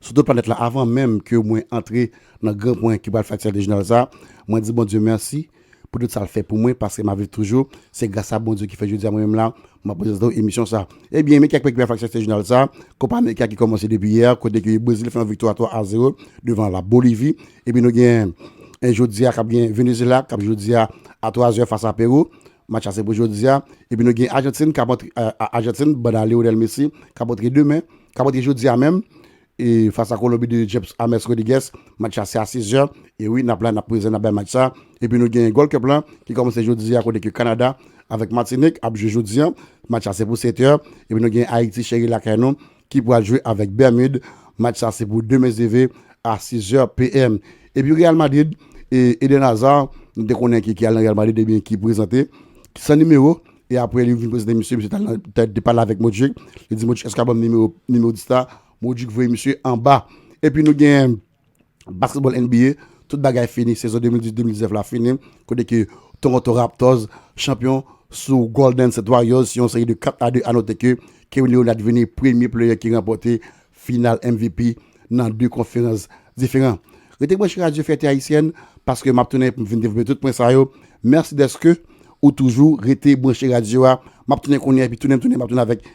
sou do planèt la avan menm ke mwen antre nan gran pwen ki pral fè aksidan dejnal sa mwen di Bondye mèsi pou tout sal fè pou mwen paske map viv toujou se gras a Bondye ki fè jodi a mwen menm la map prezante w emisyon sa ebyen men kèk pwen ki pral fè aksidan dejnal sa kopa amerika ki kòmanse depi yè kote ke brezil fè yon viktwa 3 a 0 devan la bolivi epi nou gen jodi a kap gen venezela kap jwe jodi a a 3 zè fas a perou Match la se pou jodi a. Epi nou gen Ajantin k ap antre, Ajantin banda Lionel Messi, k ap antre demen, k ap antre jodi a menm, e fas a Kolonbi de James James Rodriguez. Match la se a 6 zè. E wi, n ap la, n ap prezan, n ap bay match sa. Epi nou gen Gold Cup la ki kòmanse jodi a kote ke Kanada avèk Matinik ap jwe jodi a. Match la se pou 7 è. Epi nou gen Ayiti cheri lakay nou ki pral jwe avèk Bermude, match sa se pou demen ze ve a 6 zè PM. Epi Real Madrid, e Eden Hazard nou te konnen ki al nan Real Madrid ebyen ki prezante san nimewo e aprè li vin prezante misye, misye tal nan tè te pale avèk Modric, li di Modric èske w ka banm nimewo 10 la, Modric voye misye anba. Epi nou gen Basketball NBA, Tout bagay fini, sezon 2018-2019 la fini kote ke Toronto Raptors chanpyon sou Golden State Warriors sou yon seri de 4 a 2 a note ke Kewin Leonard vini premye player ki ranpòte final MVP nan 2 konferans diferan. Rete branche Radio Fierté Haïtienne paske map tounen pou m vin devlope tout pwen sa yo. Merci deske ou toujou rete branche radio a. Map tounen kounye epi tounen m tounen map tounen avèk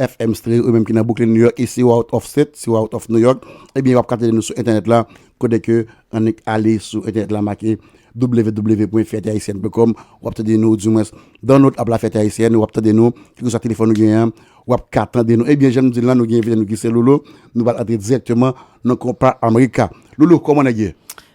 FM Stereo ou menm ki nan Brooklyn New York e si ou out of state, si ou out of New York, ebyen wap ka tande nou sou entènèt la kote ke annik ale sou entènèt la make www.fiertehaitienne.com wap tande nou ou di mwens download app la Fierté Haïtienne wap tande nou kilkeswa telefòn ou genyen an wap ka tande nou. Ebyen janm di l lan nou gen envite nou ki se Lolo nou pral antre dirèkteman nan konpa America. Lolo kòman nèg ye?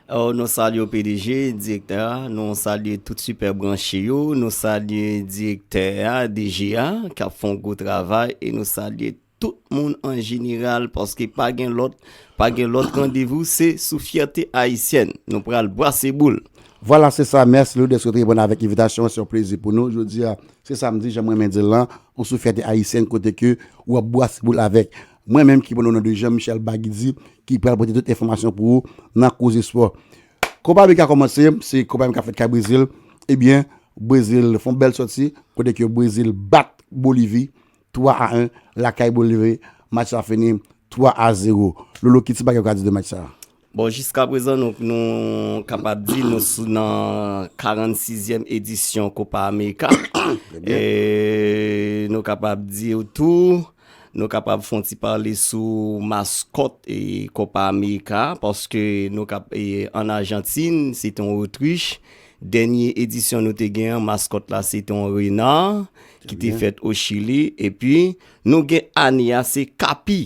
Oh nou salye w pdg, direktè a, nou salye tout sipè branche yo, nou salye direktè a, DG a, k ap fè yon gwo travay e nou salye tout moun an jeneral paske pa gen lòt, pa gen lòt randevou se sou Fyète Ayisyèn nou pral brase boul. Vwala se sa, mèsi Lou dèske w te reponn avèk envitasyon an, se yon plezi pou nou jodi a, se samdi jan m renmen di l lan, ou sou Fyète Ayisyèn kote ke ou ap brase boul avèk Mwen menm ki pran ou nan de Jean Michel Bagy di ki pral pote tout enfòmasyon pou ou nan koze spò. Kopa Amerika a kòmanse, se Kopa Amerika fèt ka Brezil, ebyen Brezil fon bèl sòti kote ke Brezil bat Bolivi 3 a 1 lakay Bolivi, match sa fini 3 a 0. Lolo ki ti bagay ou ka di de match sa? Bon, jiska prezan nou nou kapab di nou sou nan 46 zièm edisyon Kopa Amerika. E nou kapab di ou tou, nou kapab fon ti pale sou maskòt e Kopa Amerika, paske nou kap e an Ajantin, se te yon otrich. Dènye edisyon nou te gen an, maskòt la se te yon rena ki te fèt o Chili. E pi nou gen ane a se kapi.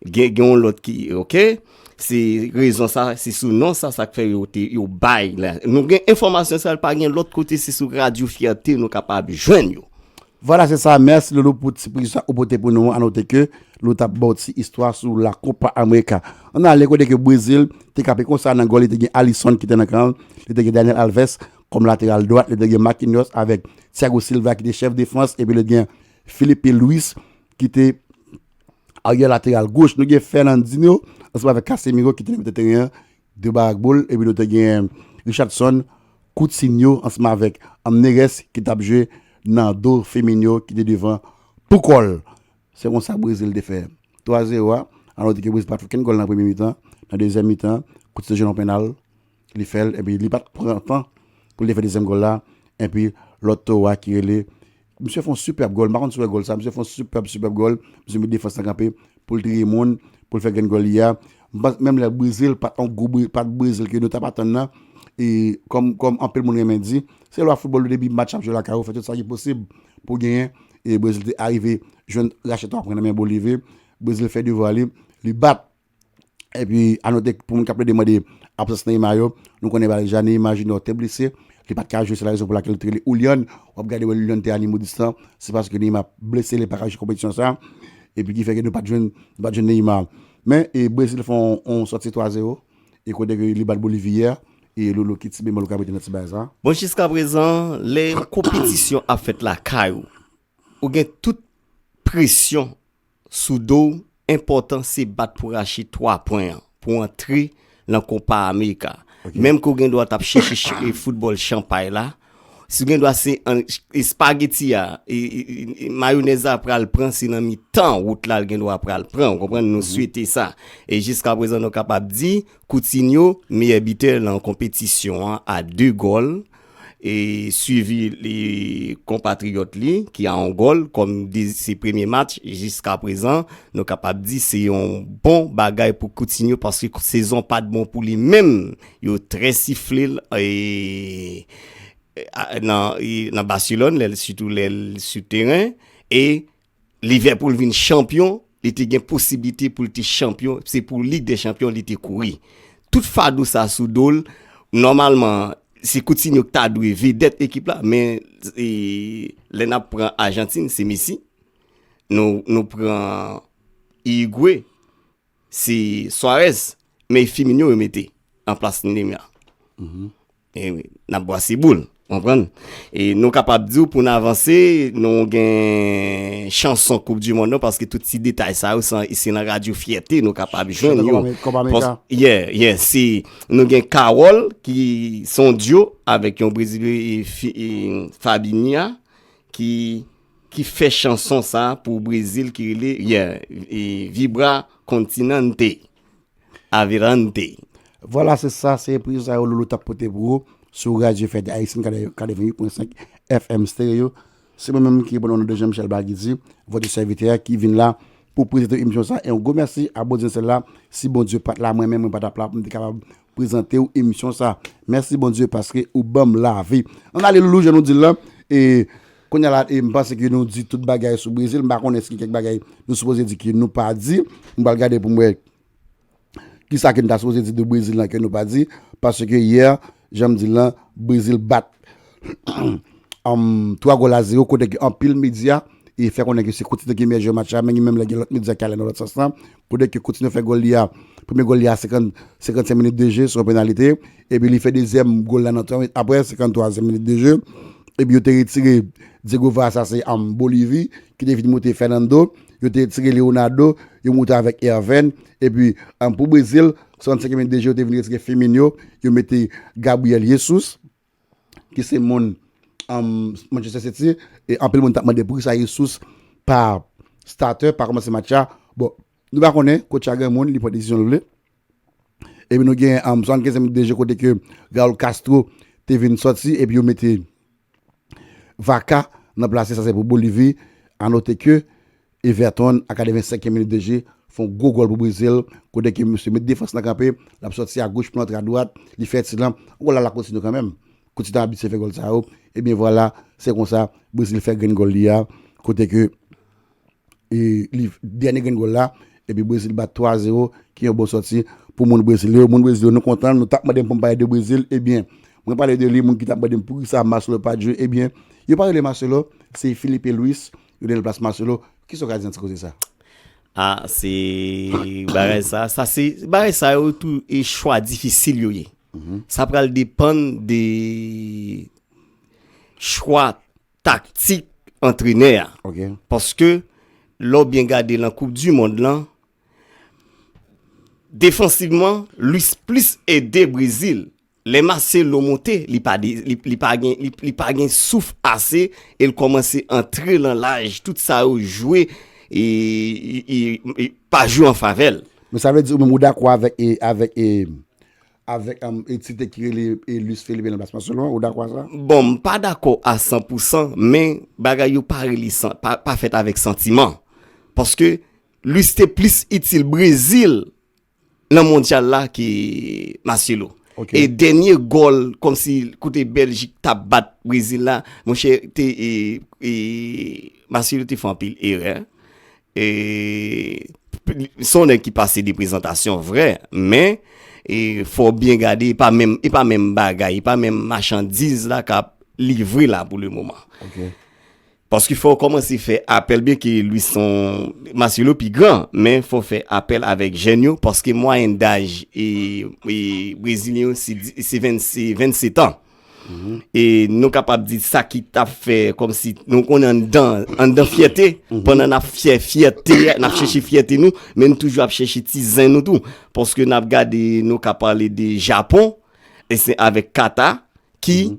Gen gen yon lòt ki, ok? Se rezon sa, se sou non sa sa fè yo te yo bay la. Nou gen enfòmasyon sa pa gen lòt kote se sou Radio Fierté nou kapab jwenn yo. Vwala se sa, mèsi Loulou pou ti prizisyon sa ou pote pou nou an. Anote ke Loulou t ap ba w ti istwa sou La Copa America. An n ale kote ke Brezil te kanpe konsa nan gòl li te gen Alisson ki te nan kan l, li te gen Daniel Alves kòm lateral dwat, li te gen Marquinhos avèk Thiago Silva ki te chèf defans epi li te gen Filipe Luis ki te Aryè lateral goch, nou gen Fernandinho ansanm avèk Casemiro ki te nan mitan teren an, de ba ak boul, epi nou te gen Richarlison, Coutinho ansanm avèk Neres ki t ap jwe nan do Firmino ki te devan pou kò l. Se konsa Brezil te fè 3 a 0 a, alò di ke Brezil pa t fè okenn gòl nan premye mitan, nan dezyèm mitan, Coutinho te jwenn yon pennal, Li fè l epi li pa t pran tan pou l te fè dezyèm gòl la epi lòt towo a ki rele Misye fè yon sipèb gòl m pa konn si w wè gòl sa misye fè yon sipèb sipèb gòl misye met defans lan kanpe pou l triye moun pou l fè grenn gòl li a m panse menm lè brize l pa t yon gwo brize pa t brize l ke nou t ap atann nan e kòm kòm anpil moun renmen di se lwa foutbòl yo depi match ap jwe lakay ou fè tout sa ki posib pou w genyen e brezil te arive jwenn rachè 3 pwen nan men bolivi brezil fè devwa li li bat Epi anote pou moun k ap plede mande absans Neymar yo, nou konnen pa deja Neymar Junior te blese, li pat ka jwe se la rezon pou lakel yo te rele Houlyan, wap gade wè Houlyan te animo distan, se paske Neymar blese li paka jwe konpetisyon sa, epi ki fè ke nou pat jwenn nou pat jwenn Neymar. Men e Brezil fè yon sòti 3 zero e kote ke li bat Bolivi yè e Lolo ki ti bemòl ou ka mete nan ti bagay sa? Bon jiskaprezan lè yon konpetisyon ap fèt lakay ou Ou gen tout presyon sou do w enpòtan se bat pou rache 3 pwen an pou w antre nan kopa amerika menm ke w gen dwa t ap chèche foutbòl chanpay la si w gen dwa se espageti a mayonèz la pral pran se nan mitan wout la l gen dwa pral pran ou konprann nou swete sa e jiskaprezan nou kapab di koutinyo meyè bitè nan konpetisyon an a 2 gòl e swivi li konpatriyòt li ki a Angòl kòm de se premye match jiska prezan nou kapab di se yon bon bagay pou Coutinho paske sezon pat bon pou li menm yo trè sifle l nan Barcelone lè l sitou lè l sou teren e Liverpool vin chanpyon, li te gen posiblite pou l te chanpyon, se pou Lig dè Chanpyon li te kouri. Tout fado sa sou do l, nòmalman se Coutinho ki ta dwe vedèt ekip la, men lè n ap pran Ajantin se Messi, nou pran Uruguay, Se Suarez men Firmino yo mete an plas Neymar. Mm-hmm. E wi, n ap bwase boul, konprann. E nou kapab di w pou n avanse, nou gen chanson Koup di Mond nou paske tout ti detay sa yo se nan radyo Fyète nou kapab jwenn yo. Kopa Amerika. Ye, ye, si nou gen Kawòl ki son dyo avèk yon Brezilye Fabinia ki ki fè chanson sa pou Brezil ki rele yeah vibra continente a virante. Vwala se sa, se enpresyon sa yo Lolo tap pote pou ou sou Radyo Fèt Ayisyen 88.5 FM Stereo. Se mwen menm ki reponn o non de Jean Michel Baguidy, votre serviteur ki vin la pou prezante w emisyon sa. Yon gwo mèsi a Bondye sèl la, si Bondye pat la mwen menm mwen pa tap la pou m te kapab prezante w emisyon sa mèsi Bondye paske ou banm lavi an alelou jan nou dil la e kounya la e m panse ke nou di tout bagay sou Brezil m pa konnen si gen kèk bagay nou sipoze di ke nou pa di m pral gade pou m wè kisa ke nou ta sipoze di de Brezil la ke nou pa di paske yè jan m di l lan Brezil bat 3 gòl a 0 kote ke anpil medya fè konnen ke se Coutinho ki meyè jwè match la men gen menm lè gen lòt medya ki ale nan lòt sans lan pou di ke Coutinho fè gòl li a premye gòl li a 55 minit de je son penalite epi li fè dezyèm gòl la nan 3 minit apre 53 e minit de je epi yo te retire Diego Vaz sa se anm Bolivi ki te vin moute Fernando yo te retire Leonardo yo moute avèk Erven epi anm pou Brezil 65 e minit de je yo te vin retire Firmino yo mete Gabriel Jesus ki se moun Manchester City e anpil moun tap mande poukisa Jesus pa starter, pa kòmanse match la. Bon, nou pa konnen, coach la gen moun, li pran desizyon l vle. E pi nou gen 75 minit de jeu kote ke Raul Castro te vin sòti e pi yo mete Vaca nan plase sa se pou Bolivie. A note ke Everton a 85 e minit de je fon gwo gòl pou Brezil kote ke misye met defans lan kanpe lap sòti a goch pou lantre a dwat li fè ti lan gòl la la Coutinho kanmenm Coutinho abitye fè gòl sa yo ebyen vwala se konsa Brezil fè grenn gòl li a kote ke li dènye grenn gòl la epi Brezil bat 3 a 0 ki yon bon sòti pou moun Brezil yo moun Brezil yo nou kontan nou tap mandem poum pale de Brezil ebyen mwen pale de li moun ki tap mandem poukisa Marcelo pat jwe ebyen yo pa rele Marcelo se Filipe Luis Yo dennen plas Marcelo, kisa w ka di nan ti koze sa? Ah se bagay sa, sa se bagay sa yo tou e chwa difisil yo ye. Sa pral depann de chwa taktik antrenè a. Ok. Paske lè w byen gade nan koup di mond lan, defansivman Luis plis ede Brezil Lè Marcelo monte, li pa de, li pa gen, li pa gen souf ase e l kòmanse antre lan laj, tout sa yo jwe e, e, e, pa jwe an favè l. Men sa vle di ou menm ou dakò avèk e, avèk e, avèk am, e ti tèk ki rele e Luis Felipe lan plas Marcelo an, ou dakò a sa? Bon, m pa dakò a san pou san, men bagay yo pa rele san, pa, pa fèt avèk santiman. Paske Luis te plis itil Brezil nan mondyal la ke Marcelo. E dènye gòl kòmsi kote Bèljik tap bat Brezil la, monchè te e Marcelo te fè anpil erè. E son nèg ki pase de prezantasyon vrè, men e fò byen gade e pa menm e pa menm bagay, e pa menm machandiz la kap livre la pou le moman. Paske fò w kòmanse fè apèl byen ke Louisson Marcelo pi gran, men fò w fè apèl avèk jèn yo paske mwayèn daj brezilyen yo se 27 an. E nou kapab di sa ki ta fè kòmsi nou konnen anndan, anndan fyète, pandan n ap fyè fyète, n ap chèche fyète nou, men nou toujou ap chèche ti zen nou tou. Paske n ap gade, nou ka pale de Japon, e se avèk Kata ki.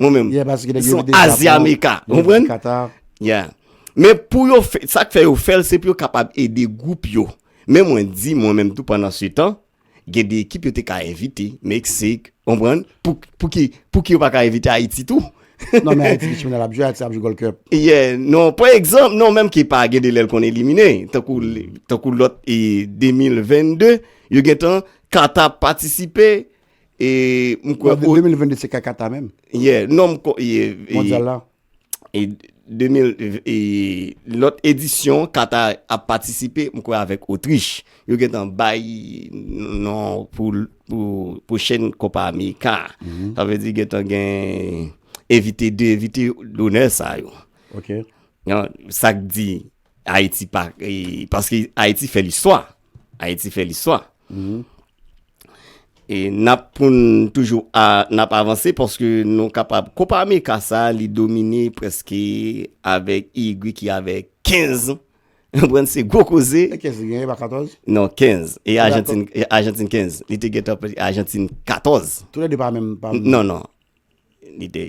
Mwen menm. Yeah, paske nèg yo vide Japon. Ils sont Aziamerica. Ou konprann? Qatar. Yeah. Men pou yo fè, sa k fè yo fè l, se pou yo kapab ede gwoup yo. Men mwen di mwen menm tou pandan se tan, gen de ekip yo te ka envite, Meksik, ou konprann? Pou, pou ki, pou ki yo pa ka envite Ayiti tou? Non men Ayiti ki chimè lap jwe, Ayiti ap jwe Gold Cup. Yeah, non, pa egzanp, non menm ki pa gen de lè l konn elimine. Tankou, tankou lòt e 2022, yo gen tan Qatar patisipe, E m kwè. 2022 se kaka ta menm. Yeah, non m kwè. Mondyal la. E 2000, e lòt edisyon kata ap patisipe, m kwè avèk Otrich. Yo gen tan bay non pou pwochen kopa Amerika. Sa vle di gen tan gen envite de envite donè sa yo. Ok. Sa k di. Ayiti pa, paske Ayiti fè listwa. Ayiti fè listwa. Mm-hmm. E nap pou n toujou nap avanse paske nou kapab Kopa Amerika sa li domine preske avèk Irigwe ki avèk 15 an. Ou pran se gwo koze. E 15 li genyen pa 14? Non 15. E Ajantin 15. Li te gentan Ajantin 14. Tou lè de pa menm pa menm. Non non. Li te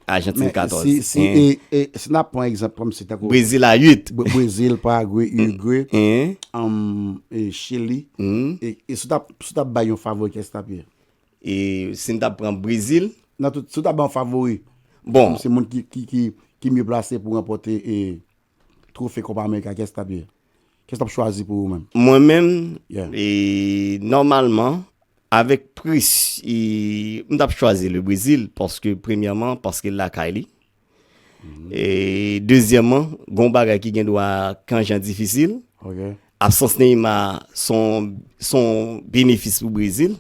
Ajantin 14. Si nap pran egzanp kòm si tankou. Brezil a 8. Brezil, Paragwe, Irigwe, Chili. E si w tap bay yon favori kiyès tap ye? E si n tap pran Brezil. Nan tout, si w tap bay yon favori. Bon. Kòm se moun ki mye plase pou ranpòte e twofe Kopa Amerika kiyès tap ye? Kès lap chwazi pou ou menm? Mwen menm? Yeah. E nòmalman avèk pris e m tap chwazi le Brezil paske premyèman paske lakay li. E dezyèman gon bagay ki gen dwa kan jan difisil. Ok. Absans Neymar son son benefis pou Brezil.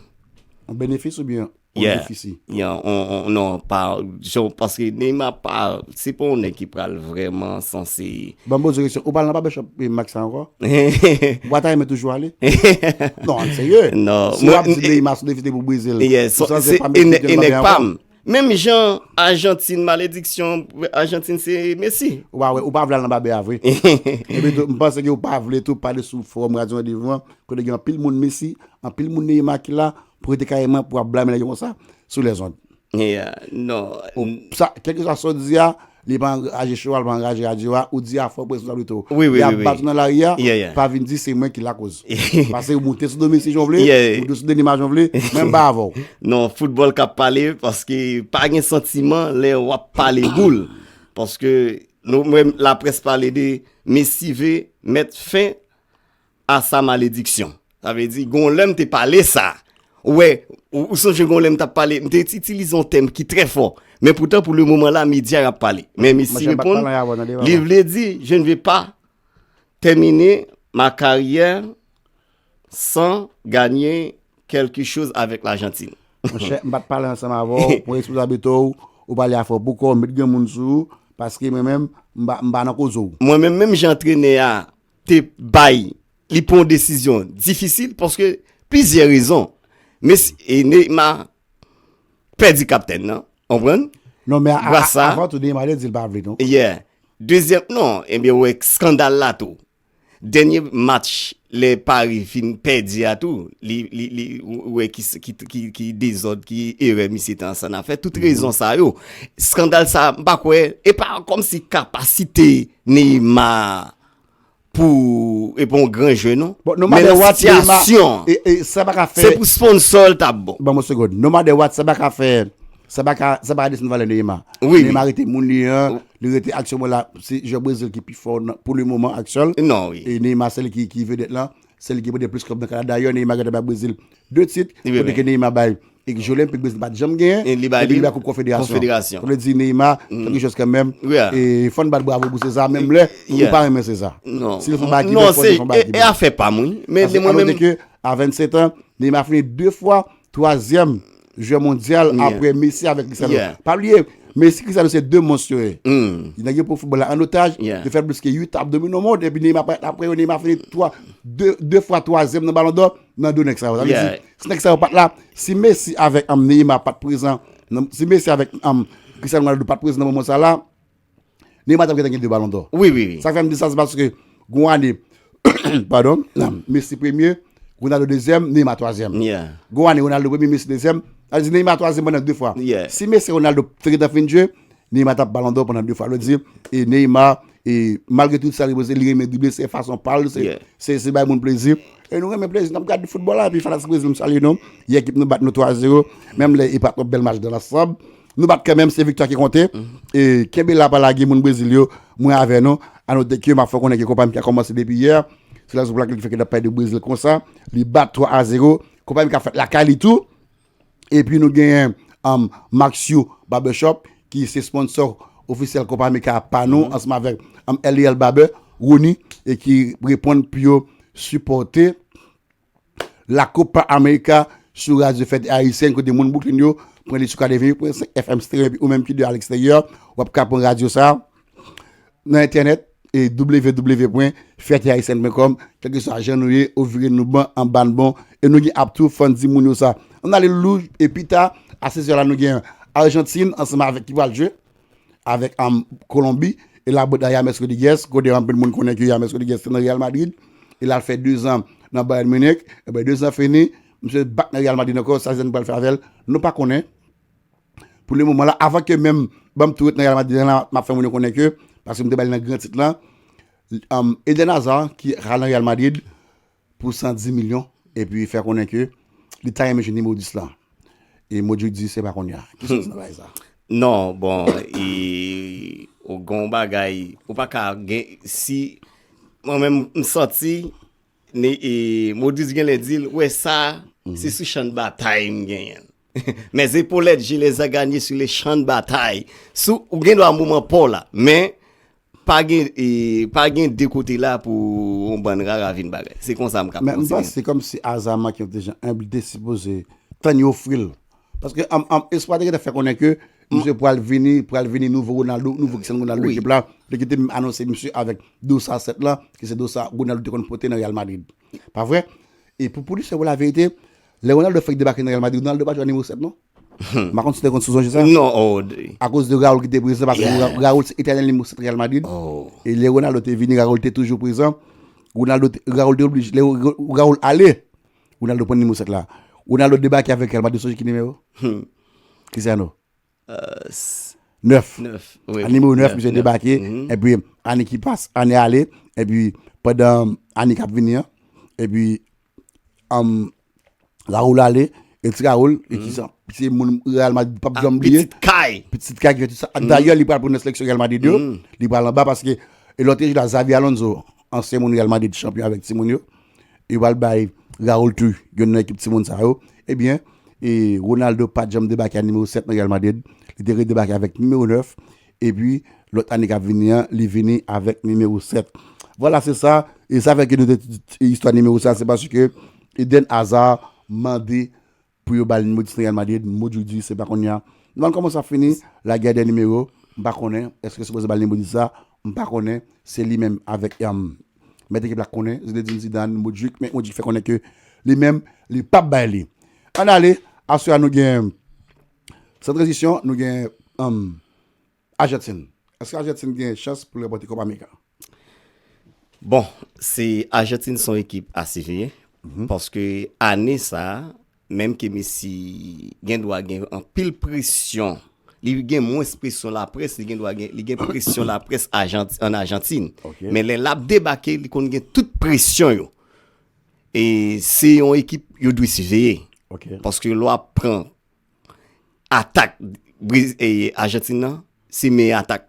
Yon benefis oubyen on Yeah. defisi. Yan, on, on, non, pa, jan, paske Neymar pa, se pa yon nèg ki pral vrèman sanse. Ban m poze yon kesyon, ou pral nan barbershop eh, Max la ankò? Ou pa ta renmen toujou ale? Non, an serye. Non, Si mwen- wap di Neymar sou defisi pou brize l. Yeah, ou so, sanse se pa e nè- Meksik e l pa nèg byen pa ankò? m. Menm jan Ajantin malediksyon, Ajantin se Messi. Ou pa wè, ou pa vle al nan babe a vre. Epi tou, m panse ke ou pa vle tou pale sou forum Radio Rendez-vous an, kote gen anpil moun Messi, anpil moun Neymar ki la, Pou rete kareman pou ap blame nèg yo konsa sou les ondes. Yeah non. Kelke swa sa w di a, li pa angaje show a, li pa angaje radyo a, ou di a fò responsabilite w. Wi wi wi. Lè y ap bat ou nan lari a, pa vin di se mwen ki lakoz. Pase ou moute sou Domi si jan w vle, ou moute sou Denima jan w vle, mwen m pa avè w. Non, foutbòl k ap pale, paske pa gen santiman lè w ap pale boul. Paske nou mwen laprès pale de Messi ve mèt fen. a sa malediksyon. Sa vle di, gon lè m te pale sa. Ou wè, ou sonje gon lè m t ap pale, m te itilize yon tèm ki trè fò. Men poutan pou le moman la, medya y ap pale. Men mesi reponn, li vle di, je ne vais pas terminer ma carrière sans gagner quelque chose avec l'Argentine. Mwen chè, m pa t pale ansanm avè w, mwen responsabilite w, ou pale a fò bouko, met gen moun sou ou, paske mwen menm, m pa nan koze w. Mwen menm, menm jan antrenè a te bay li pran yon desizyon difisil paske plizyè rezon. Mes e Neyma pèdi kaptèn nan, konprann? Non men a, Grasa- a, avan tou Neyma te di l pa vle non. Yeah. Dezyèm, non, enben ou wè skandal la tou. Dènye match lè Paris fin pèdi a tou, li, li, li, ou wè ki s- ki t- ki, ki dezòd, ki erè misye te ansann a fè. Tout rezon sa yo. Skandal sa, m pa kwè, e pa kòmsi kapasite Neymar pou e pa yon gran jwè non. Bon, no matter what Neymar sa pa ka fè. Se pou sponsor l ta bon. Ban m yon segond. No matter what sa pa ka fè sa pa ka desann valè Neymar. Neymar rete moun li an, li rete aksyon mwen la se jwè Brazil ki pi fò pou le moman aksyon l. Non wi. E Neymar se li ki vedèt lan. Se li ki pote plis klèb nan Kanada. Dayè Neymar gentan bay Brezil 2 tit, kote ke Neymar bay ekip Jeux Olympiques Brezil pat janm genyen, epi li bay koup konfederasyon. Sa vle di Neymar se yon jwè kanmenm, e fò n bat bravo pou Cesar menm lè nou pa renmen Cesar. Si l fon bagay ki bèl, fò n di l fon bagay ki bèl. Non, se afè pa m wi. Paske a 27 ans, Neymar fini 2 fwa Twazyèm jwè mondyal apre Messi avèk Cristiano. Pa bliye, Messi, Cristiano se 2 mons yo ye. Nèg yo pran foutbòl la an otaj, yo fè plis ke 8 an ap domine monn, epi Neymar parèt apre yo, Neymar fini 3, 2 fwa twazyèm nan balon dò nan do nèg sa yo. Sa vle di, si nèg sa yo pat la, si Messi avèk Neymar pat prezan, si Messi avèk Cristiano Ronaldo pat prezan nan moman sa la, Neymar tap gentan gen 2 balon dò. Wi wi wi. Sak fèm di sa se paske gon ane padon Messi premye, Ronaldo dezyèm, Neymar twazyèm. Yeah. Gon ane Ronaldo premye, Messi dezyèm. Sa vle di Neymar twazyèm pandan 2 fwa. Yeah. Si Messi ak Ronaldo te gentan fin jwe, Neymar tap balon dò pandan 2 fwa. Sa vle di e Neymar e malgre tout sa li pose, li renmen drible, se fason pa l, Yeah. se se bay moun plezi. E nou renmen plezi, nap gad foutbòl la epi fanatik Brezil m salye nou. Yè ekip nou bat nou 3 a 0, menm lè e pa twòp bèl match dans l'ensemble. Nou bat kanmenm se viktwa ki konte e kenbe la pa lage moun Brezil yo mwen avè nou anote ke ma fè konnen ke Copa MK kòmanse depi yè se rezon pou lakel ki fè ke nap pale de Brezil konsa li bat 3 a 0 Copa MK fèt lakay li tou epi nou genyen um, Maxiou Barbershop ki se sponsò ofisyèl Copa MK pa nou ansanm avèk um, LEL Barber Rony e ki reponn pou yo sipòte La Copa America sou radyo fèt ayisyen kote moun Brooklyn yo pran li sou 88.5 FM stereo epi ou menm ki de aleksteryè wap ka pran radyo sa nan entènèt e www.fèteayisyen.com kèlke sa jan nou ye ou vire nou ban an ban bon e nou gen ap tou fon di moun yo sa an ale lou e pita a 16 la nou gen Argentine ansanm avèk ki pral jwe avèk Kolonbi, e la bota James Rodriguez, kote anpil moun konnen ke James Rodriguez te nan Real Madrid, e lal fè 2 zan nan Bayern Munich, e ben 2 zan fini, misye bak nan Real Madrid ankò, sa Zidane pral fè avèl, nou pa konnen, pou le moman la, avan ke menm, banm tou ret nan Real Madrid lan, map fè moun yo konnen ke, paske m te bal nan gran tit lan, Eden Hazard, ki al nan Real Madrid, pou 110 milyon epi fè konnen ke li ta renmen jwenn nimewo 10 lan. E Modjou di se pa kounye a. Ki sans nan bagay sa? Non, bon, e ou gen yon bagay, ou pa ka gen, si mwen menm m santi ni e Modjou di gen lè di l wè sa se sou chan batay m genyen l. Mes epaulettes, je les ai gagnees sur le champ de bataille. Sou, ou gen dwa moman pa w la, men Pa gen pa gen de kote la pou yon bann rara vin bagay. Se konsa m ka panse. Men m panse se kòmsi aza manke yon ti jan enb li te sipoze tann yo ofri l. Paske espwa te gentan fè konnen ke misye pral vini, pral vini nouvo Ronaldo, nouvo Cristiano Ronaldo ekip la. Li te menm anonse misye avèk dosa 7 lan ki se dosa Ronaldo te konn pote nan Real Madrid. Pa vre? E pou w di se pou laverite, lè Ronaldo fèk debake nan Real Madrid, Ronaldo pa t jwe ak nimewo 7 non. Humm. M pa konn si w te konn sou sonje sa. Non, oh Dre. A koz de Raúl ki te prezan paske Raúl se etènèl nimewo 7 Real Madrid. Oh. E lè Ronaldo te vini, Raúl te toujou prezan. Ronaldo te, Raúl te oblije, lè Raúl ale, Ronaldo pran nimewo 7 la. Ronaldo debake avèk Real Madrid, sonje ki nimewo? Humm. Cristiano. Euh. 9. 9, wi. A nimewo 9, misye debake. E pi, ane ki pase, ane ale, e pi, pandan ane k ap vini an, e pi, Raoul ale, El Ti Raoul, e ki sa? Se moun Real Madrid pap janm bliye. Pitit kay. Pitit kay ki fè tout sa. Dayè li pral pou nan seleksyon Real Madrid yo. Li pral anba paske e lòt te jwe la Xabi Alonso, ansyen moun Real Madrid chanpyon avèk ti moun yo. E yo pral bay Raoul tou yon nan ekip ti moun sa yo. Ebyen, e Ronaldo pat janm debake a nimewo 7 nan Real Madrid. Li te redebake avèk nimewo 9. epi lòt ane kap vini an li vini avèk nimewo 7 vwala se sa e sa fè ke nou te di istwa nimewo sa se paske Eden Hazard mande pou yo bal nimewo 10 nan Real Madrid Modou di se pa konnya nou bann kòman sa fini la guerre des numéros m pa konnen èske yo sipoze bal nimewo 10 la m pa konnen se li menm avèk mèt ekip la k konnen Zinedine Zidane Modric men Modric fè konnen ke li menm li pap bay li ann ale aswè a nou gen San tranzisyon nou gen Ajantin. Eske Ajantin gen chans pou l ranpòte Kopa Amerika? Bon, se Ajantin son ekip a siveye. Paske ane sa, menm ke Messi gen dwa gen anpil presyon, li gen mwens presyon laprès, li gen dwa gen, li gen presyon laprès an Ajantin. Men lè l ap debake, li konn gen tout presyon yo. E se yon ekip yo dwe siveye. Paske lè w ap pran atak Argentine nan se meyè atak.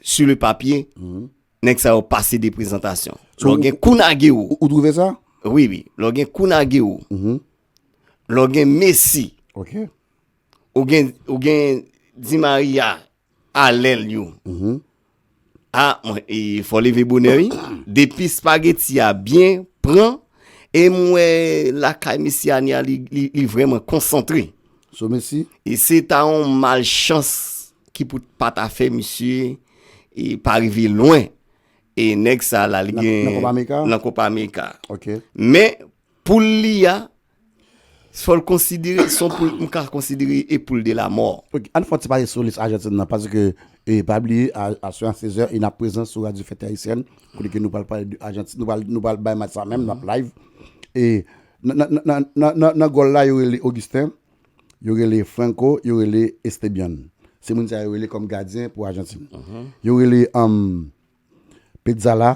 Su le papye, mm-hmm. nèk sa yo pase de prezantasyon. Lò gen kou nage ou. Ou drouve sa? Oui, oui. Lò gen kou nage ou. Mm-hmm. Lò gen Messi. Ok. Ou gen Di Maria. alèl yo a mwen e fò leve bonè wi depi spageti a byen pran e mwen lakay mesi ane a li vreman konsantre so mesi e se ta yon mal chans ki pou pa ta fè mesi e pa rive lwen e nèg sa la li gen nan kopa meka ok men Poul li a, fò l konsidere, s on poul m ka konsidere e poul de la mò. Ok, ann fè yon ti pale sou lis Ajantin nan, paske e pa bliye a a swa 16 è e n ap prezan sou radyo Fète Ayisyèn, kote ke nou pral pale de Ajantin, nou pral nou pral bay match sa menm, n ap live e nan nan nan nan nan nan nan gòl la yo rele Augustin, yo rele Franco, yo rele Estebian. Se moun sa yo rele kòm gadyen pou Ajantin. Yo rele Petzala.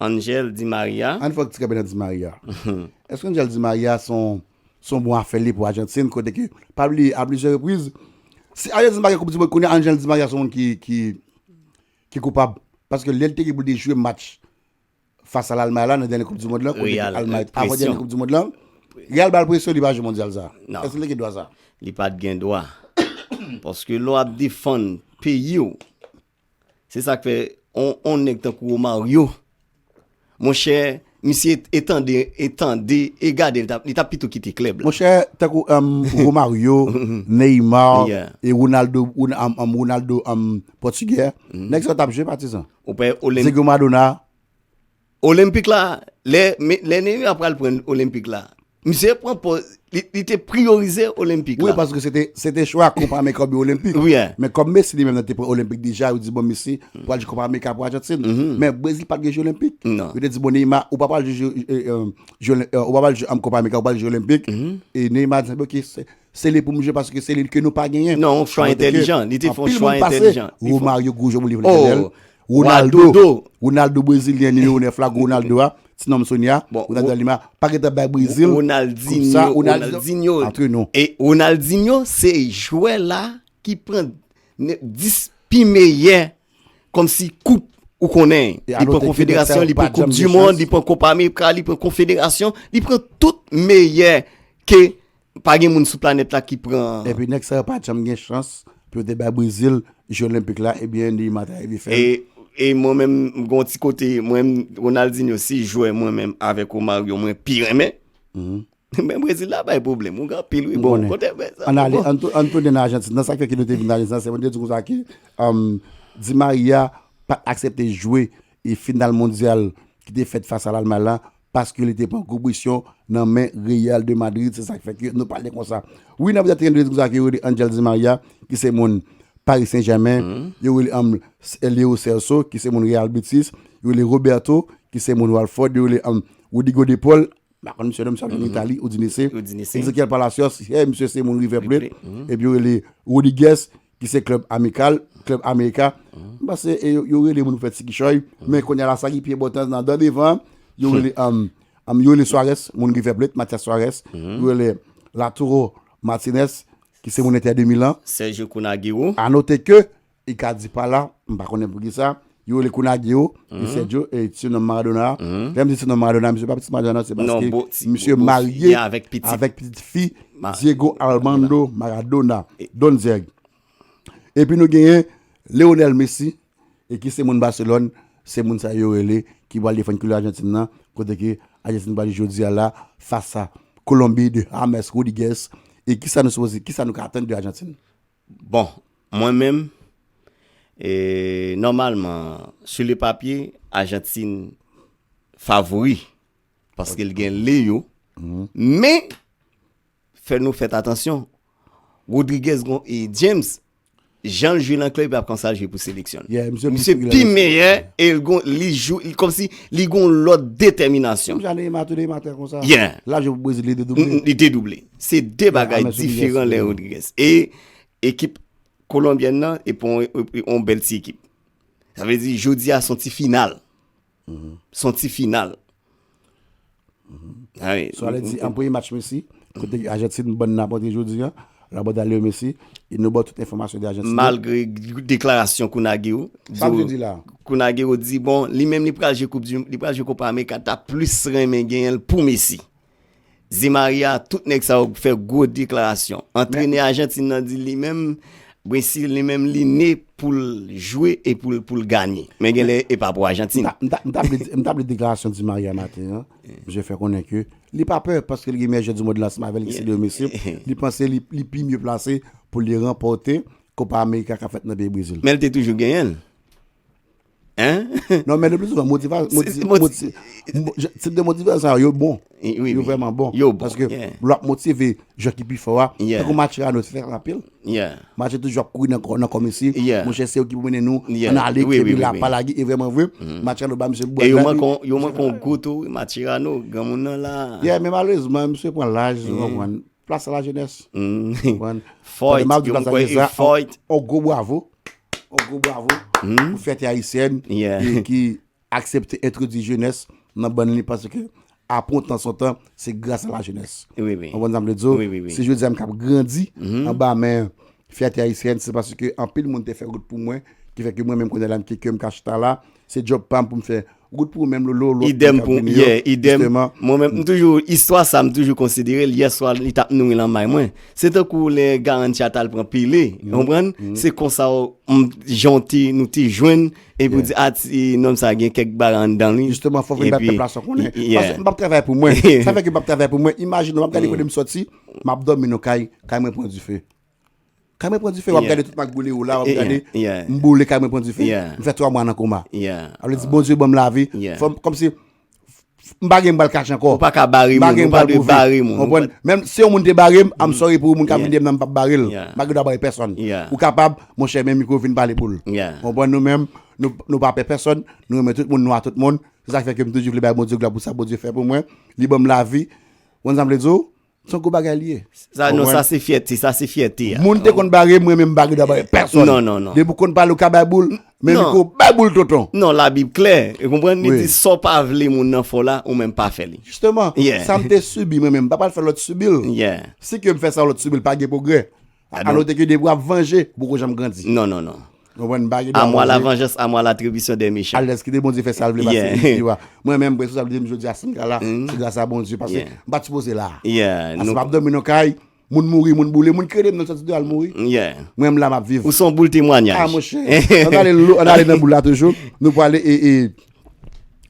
Angel di Maria. Ann fòk ti kanpe nan di Maria. Èske Angel di Maria s on s on bon afè li pou Ajantin kote ke pa bliye a plizyè repriz si Ajantin pa gen koup di mond kounye a Angel di Maria s on moun ki ki ki koupab paske lè l te gen pou l te jwe match fas a Lalmay la nan dènye koup di mond lan kote ke Almay avan dènye koup di mond lan Real ba l presyon li pa jwe mondyal sa a èske l te gen dwa sa a? Li pa t gen dwa paske lè w ap defann peyi w Se sak fè on nèg tankou Romario monchè misye e tande e tande e gade li tap pito kite klèb la. Monchè tankou Romario, Neymar e Ronaldo Ronaldo pòtigè nèg sa yo tap jwe patizan. Ou pè Olenb Diego Maradona Olenpik la, lè Neymar pral pran Olenpik la, misye pran pòz, li te priyorize Olenpik la. Wi, paske se te chwa Kopa Amerika oubyen Olenpik. Wi. Men kòm Messi li menm nan te pran Olenpik deja, yo di bon Messi pral jwe Kopa Amerika pou Ajantin. Men Brezil pat gen jwe Olenpik. Yo te di bon Neymar ou pa pral jwe Kopa Amerika, ou pral jwe Olenpik. E Neymar di ok, se li pou m jwe paske se li ke nou pa genyen. Non, chwa entelijan. Li te fon chwa entelijan. Anpil moun pase. Romario, Goujon, moun li vle genyen l. Ronaldo do Ronaldo brezilyen nimewo 9 la gwo Ronaldo a ti nonm Sonia Ronaldo a Lima pa gentan bay Brezil Ronaldinho Ronaldinho antre nou e Ronaldinho se jwè la ki pran 10 pi meyè kòm si koup ou konnen li pran konfederasyon li pran koup di mond li pran koup amerika li pran konfederasyon li pran tout meyè ke Pa gen moun sou planèt la ki pran. Epi nèg sa yo pa janm gen chans pou yo te bay Brezil je olenpik la ebyen Neymar ta rive fèl. E mwen menm m gon ti kote mwen Ronaldinho se jwè mwen menm avèk Romario mwen pi renmen men Brezil la bay pwoblèm ou gen anpil wi bon kote men sa bon bon. Ann tounen nan Ajantin nan sak fè ke nou te vin nan Ajantin nan se mwen te di konsa ke Di Maria pat aksepte jwe final mondyal ki te fèt fas a Lalmay la paske li te pran koubrisyon nan men Real de Madrid se sak fè ke nou pale konsa wi nap di tren sa ki rele Angel Di Maria ki se moun Paris Saint Germain yo rele anml Leo Celso ki se moun Real Betis yo rele Roberto ki se moun Walford yo rele anml Rodrigo de Paul ma konn misye non misye ap jwe nan Italie Udinese Ezequiel Palacios he misye se moun River Plate epi yo rele Rodriguez ki se klèb amikal, klèb Amerika, m panse e yo rele moun pou fè ti kichòy, men kounye a la sa ki pi enpòtan nan dan devan, yo rele yo rele Suarez, moun River Plate, Matias Suarez, yo rele Lautaro Martinez, ki se moun Inter de Milan. Sergio Kunagüero. A note ke, Icardi pa la, m pa konnen poukisa, Yo rele Kunagio, Eusebio, et surnomme Maradona. Lè m di surnomme Maradona, misye pa pitit Maradona, se paske misye marye avèk pitit fi Diego Armando Maradona, Don Zeg. Epi nou genyen Leonel Messi, e ki se moun Barcelone, se moun sa yo rele ki pral defann koulè Arjantin nan, kote ke Arjantin pral jwe jodi a la fas a Kolonbi de James Rodriguez, e kisa nou sipoze, kisa nou ka atann de Arjantin? Bon, mwen menm, nòmalman, sou le papye, Ajantin favori, paske l gen Leo, men, fè nou fèt atansyon, Rodriguez gon e James, jan l jwe nan klèb la, konsa l jwe pou seleksyon l. Misye pi meyè, e l gon, li jou, kòm si, li gon lòt detèminasyon. Menm jan Neymar tou, Neymar te konsa. Yeah. L ap jwe pou Brezil, li dedouble. Li dedouble. Se 2 bagay diferan Len Rodriguez e ekip Kolonbyèn nan e pou yon bèl ti ekip. Sa vle di jodi a son ti final. Son ti final. Sa vle di an premye match Messi, kote Ajantin ban nan pote jodi a, la bòda Leo Messi, e nou ba w tout enfòmasyon de Ajantin. Malgre deklarasyon Kun Agüero. Sa vle di la. Kun Agüero di bon li menm li pral jwe koup di, li pral jwe Kopa Amerika ta plis renmen genyen l pou Messi. Di Maria, tout nèg sa yo fè gwo deklarasyon. Antrenè Ajantin nan di li menm, Messi li menm li ne pou l jwe e pou l ganye. Men gen lè e pa pou Ajantin. M ta plis deklarasyon Di Maria maten an. Misye fè konnen ke li pa pè paske li gen meyè jwè di mond lan ansanm avè l ki se Leo Messi. Li panse li pi mye plase pou li ranpòte Kopa Amerika k ap fèt nan peyi Brezil. Men l te toujou genyen l. Hein? Non men le plus souvent motival Tip de motival sa yo bon Yo vreman bon Yo bon Paske lwa ap motive Jou ki pi fò a Tankou match la nou te fè an apil Match la toujou ap kouri nan kòmesi Mouche se yo ki pou mennen nou An ale epi la pa lage E vreman vre Match la nou ba misye bwa E yo manke yon gou tou Match la nou Gran moun nan la Yeah men malerezman misye pran laj Plas a la jenès. Konprann? Fòyt. Tande m ap di plas a jenès la. Fòyt. On gwo bwavo. On gwo bwavo. Pou fyète ayisyèn. Yeah. Ki aksepte entwodui jenès nan bann li paske apre on tan son tan se gras a la jenès. Wi, wi. Konprann sa m vle di w? Wi, wi, wi. Si jodi a m k ap grandi anba men fyète ayisyèn se paske anpil moun te fè wout pou mwen ki fè ke mwen menm kounye a la m ke kè m ka chita la Se job pam poum fè. Good pou ou menm lolo lot moun kap vini yo. Yeah idem mwen menm m toujou istwa sa m toujou konsiderel yè swa li tap nouri lan may mwen se tankou lè Garantia tal pran pile ou konprann se konsa m janw te nou te jwenn epi ou di a ti nonm sa gen kèk bagay anndan li Justement fòk vin bay pèp la sa konnen paske m pap travay pou mwen sa fè ke m pap travay pou mwen imajine w map gade kote m soti map dòmi nan kay kay mwen pran dife. Kay mwen pran dife, wap gade tout mak boule ou la, wap gade m boule kay mwen pran dife, m fè 3 mwa nan koma. A vle di Bondye banm lavi, fòm kòm si m pa gen m pral kache anko. Ou pa ka bare moun, ou pa dwe bare moun. Konprann? Menm si yon moun te bare m, I'm sorry pou ou, moun kap vin deyè m nan m pap bare l. M pa gen dwa bare pèsòn. Ou kapab, monchè men mikwo vin pale pou l. Konprann nou menm, nou pa pè pèsòn, nou renmen tout moun, nou a tout moun. Se sa k fè ke m toujou vle bay Bondye glwa pou sa Bondye fè pou mwen. Li banm lavi. Ou konn sa m vle di w? Son gwo bagay li ye. Sa non sa se fyète, sa se fyète. Moun te konn bare mwen men mbagè dwa bare pèson. Non, non, non. Depi ou konn pale ou ka bay boul, men li kou bay boul tonton. Non, la bib klè. Ou konprann li di sa ou pa vle moun nan fè w la, ou menm pa fè li. Jisteman, sa m te sibi mwen menm m pa pral fè lòt sibi l. Si ke m fè sa lòt sibi l pa gen pwogrè. Alo te ke de wap vanje, ou poko janm grandi. Non, non, non. Ou wè n pa gen dwa vanje. A mwa la vanjans, a mwa la tribisyon dè mechan. Alèz kite Bondye fè sa l vle pase li di wa. Mwen menm prese sa vle di m jodi a si m ka la, se gras a Bondye pase m pa t sipoze la. Pase m ap dòmi nan kay, moun mouri, moun boule, moun krede m nan sòti deyò al mouri. Mwen m la m ap viv. Ou son boul temwanyaj. A mwen chè. An ale lou, an ale nan boul la toujou. Nou pou ale e e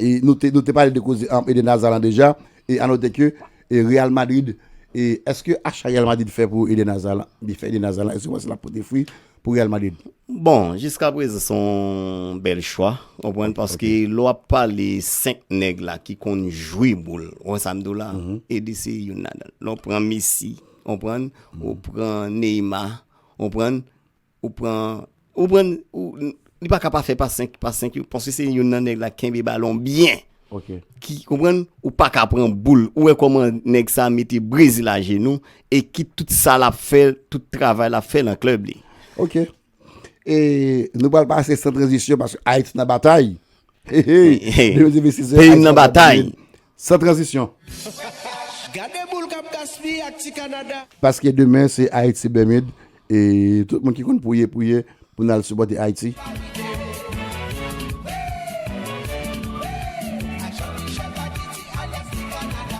e nou te pale de koze Eden Hazard lan deja e anote ke E Real Madrid e eske acha Real Madrid fè pou Eden Hazard la, li fè Eden Hazard la, eske ou panse lap pote fwi pou Real Madrid? Bon, jiska prezan se yon bèl chwa, ou konprann, paske lè wap pale 5 nèg la ki konn jwe boul, ou konprann sa m di w la, Eden se youn ladan l. Lè w pran Messi, ou konprann, ou pran Neymar, ou konprann, Ou pran, ou pran, ou, li pa ka pa fè pa 5, pa 5 yo, paske se youn nan nèg la kenbe balon byen. Ok. Ki, konprann, ou pa ka pran boul. Ou wè kòman nèg sa mete Brezil ajenou, e ki tout sa l ap fè, tout travay l ap fè nan klèb li. Ok. E, nou pral pase san tranzisyon, paske Ayiti nan batay. Heyy, heyy, 2026 yo, Ayiti nan batay. Peyi m nan batay. San tranzisyon! Gade boule kap gaspiye ak ti Canada. Paske demen se Haiti Bermude e tout moun ki konn priye priye pou nou al sipòte Haiti.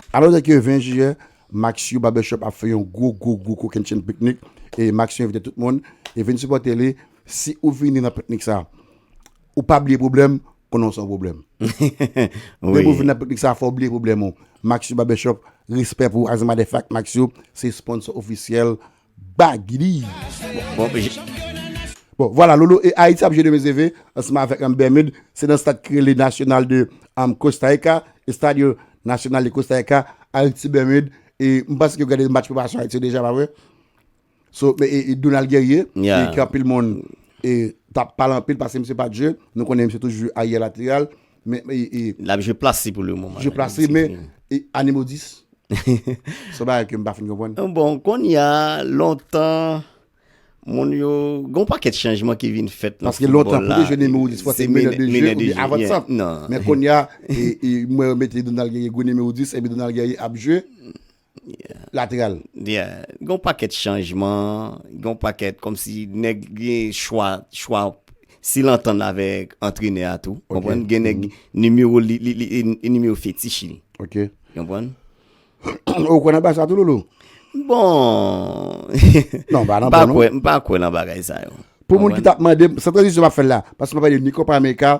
A note ke 20 jiyè, Maxio Barbershop ap fè yon gwo gwo gwo kokenn chenn piknik e Maxio envite tout moun e vin sipòte li. Si ou vini nan piknik sa, ou pa bliye pwoblèm konnen w san pwoblèm. Depi w vin nan piknik sa a fò w bliye pwoblèm ou. Maxio Barbershop, respè pou Azimadèf ak Maxio, se sponsò ofisyèl Bagy D. Bon, vwala, Lolo e Ayiti ap jwe demen ze ve ansanm avèk Bermud. Se nan stad ki rele Nacional de Costa Rica, Estadio Nacional de Costa Rica, Ayiti-Bermud. E m panse ke w gade match preparasyon Ayiti yo deja, pa vre? So, men e Donald Guerrier, Yeah. e ke anpil moun e tap pale anpil pase misye pa Dieu, nou konnen misye toujou aye lateral, men e, e L ap jwe plas li pou le moman. je plase Se men fini. e ane modis. Son bagay ke m pa fin konprann. Bon, kounye a, lontan, moun yo, gon pakèt chanjman ki vin fèt nan Paske foutbòl lontan pou la. te jwe nimewo 10 fò se Se menè de menè jeu de oubyen jeu, avan yeah. sant. Non. Men kounye a, e, e mwen yo mete Donald Guerrier gwo nimewo 10 epi Donald Guerrier ap jwe, lateral. Yeah, gen yon pakèt chanjman, gen yon pakèt kòmsi nèg gen chwa, chwa si l antann avèk antrenè a tou, konprann, gen nèg nimewo li, li, li, li nimewo fetich li. Ok. Konprann? Ou kwè nan bagay sa tou Loulou? Bon, Non, m pa nan m pa bon non. kwè, m pa kwè nan bagay sa yo. Pou moun ki t ap mande m, san tranzisyon m ap fè l la, paske m ap pale ni Copa America,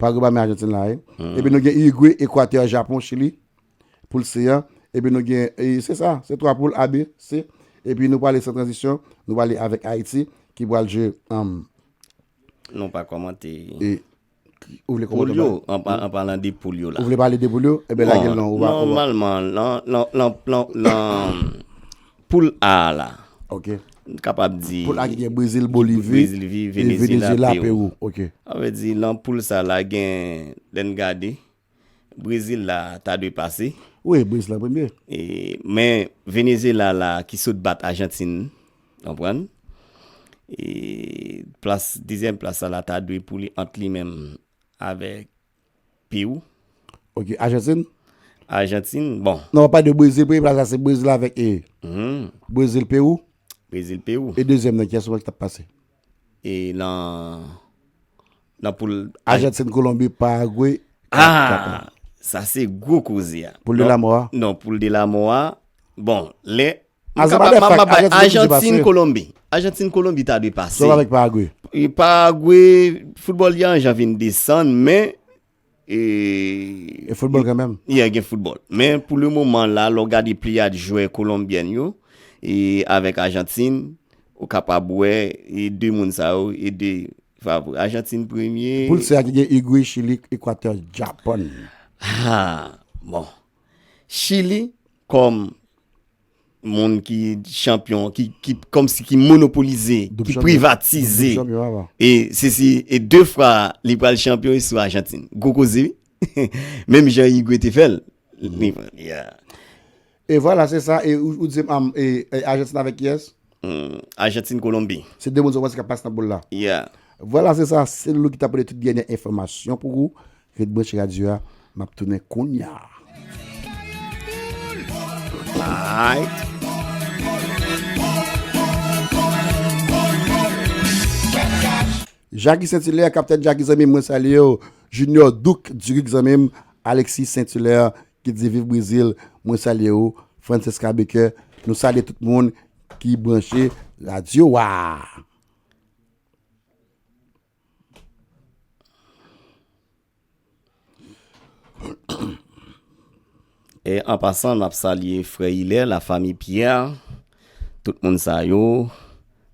Paragwe pami Ajantin la ye. Epi nou gen Irigwe, Ekwatè, Japon, Chili. Poul se an. Epi nou gen, se sa, se 3 poul A, B, C. Epi nou pale san tranzisyon, nou pale avèk Ayiti ki pral jwe an. Nou pa kòmante. E. Ou vle kòmante. Poul yo, an palan de poul yo la. Ou vle pale de poul yo, e ben lage l nan ou. Nòmalman, nan, nan, nan, nan, nan. Poul A a la. Ok. M kapab di. Poul A ki gen Brezil, Bolivi. Bolivi, Venezyela, Pewou. Ok. A vle di nan poul sa la gen lè n gade Brezil la ta dwe pase. Wi, Brezil an premye. E men Venezyela la ki sot bat Ajantin, konprann. E plas, dezyèm plas sa la ta dwe pou li ant li menm avèk. Pew. Ok, Ajantin? Ajantin, bon. Non, wap pale de Brezil, premye plas la se Brezil avèk e. Brezil, Pew. Brezil, Pew. E dezyèm nan, kiyès ou wè ki tap pase? E nan, nan poul. Ajantin, Kolonbi, Paragwe. Aa, sa se gwo koze a. Poul de la mò a? Non, poul de la mò a, bon, lè Mwen kapab mwen ap bay Ajantin Kolonbi. Ajantin Kolonbi ta dwe pase. Sòl avèk Paragwe. E Paragwe, foutbòl yan jan vin desan, men. E foutbòl gen menm. Yè gen foutbòl. Men pou le moman la, lò gade pli yad jwè Kolonbyen yo, e avèk Ajantin, ou kapab wè, e de moun sa yo, e de favori. Ajantin premye. Pou l se a ki gen Igwe, Chili, Ekwatè, Japon. Ha, bon. Chili. Kòm moun ki chanpyon, ki kòm si ki monopolize, ki privatize. E se si e 2 fwa li pral chanpyon e sou Ajantin. Gwo koze wi. Menm jan Igwe te fèl. E vwala se sa e ou di se Ajantin avèk kiyès? Argentine Colombie. Se 2 moun sèlman kap pase nan poul la. Yeah. Vwala se sa se Loulou ki ta pote tout dènyè enfòmasyon pou ou, ret branche radyo a map tounen kounya. Alright. Jackie Saint Hilaire, Captain Jackie zanmim mwen salye w, Junior Duc Duric zanmim, Alexis Saint Hilaire Ki di viv brezil mwen salye ou Francesca Baker nou salye tout moun ki branche radyo wa. E an pasan nap salye frè Hilaire la famille Pierre tout moun sa yo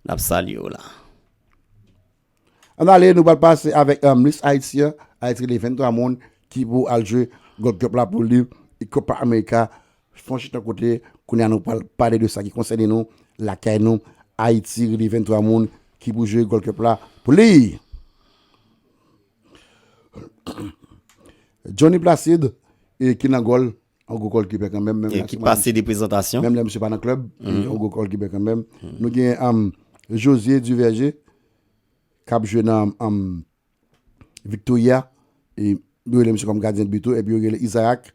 nap salye yo la. Ann ale nou pral pase avèk Miss Haiti an, Haiti gen 23 moun ki pou al jwe Gold Cup la pou liv e Copa America fon chita kote kounye a nou pral pale de sa ki konsène nou lakay nou Haiti gen 23 moun ki pou jwe Gold Cup la pou liv. Johnny Placide e ki nan gòl. On gwo kòl kibè kanmenm menm lè misye pase de prezantasyon menm lè misye pa nan klèb on gwo kòl kibè kanmenm nou gen am Josie Duverger kap jwe nan am Victoria e yo rele misye kòm gadyen de bi tou epi yo rele Isaac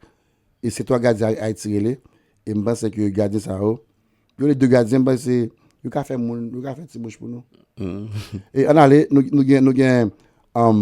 e se 3 gadyen Ayiti rele e m panse ke gadyen sa yo yo rele 2 gadyen m panse yo ka fè moun yo ka fè ti bouch pou nou e an ale nou gen nou gen am.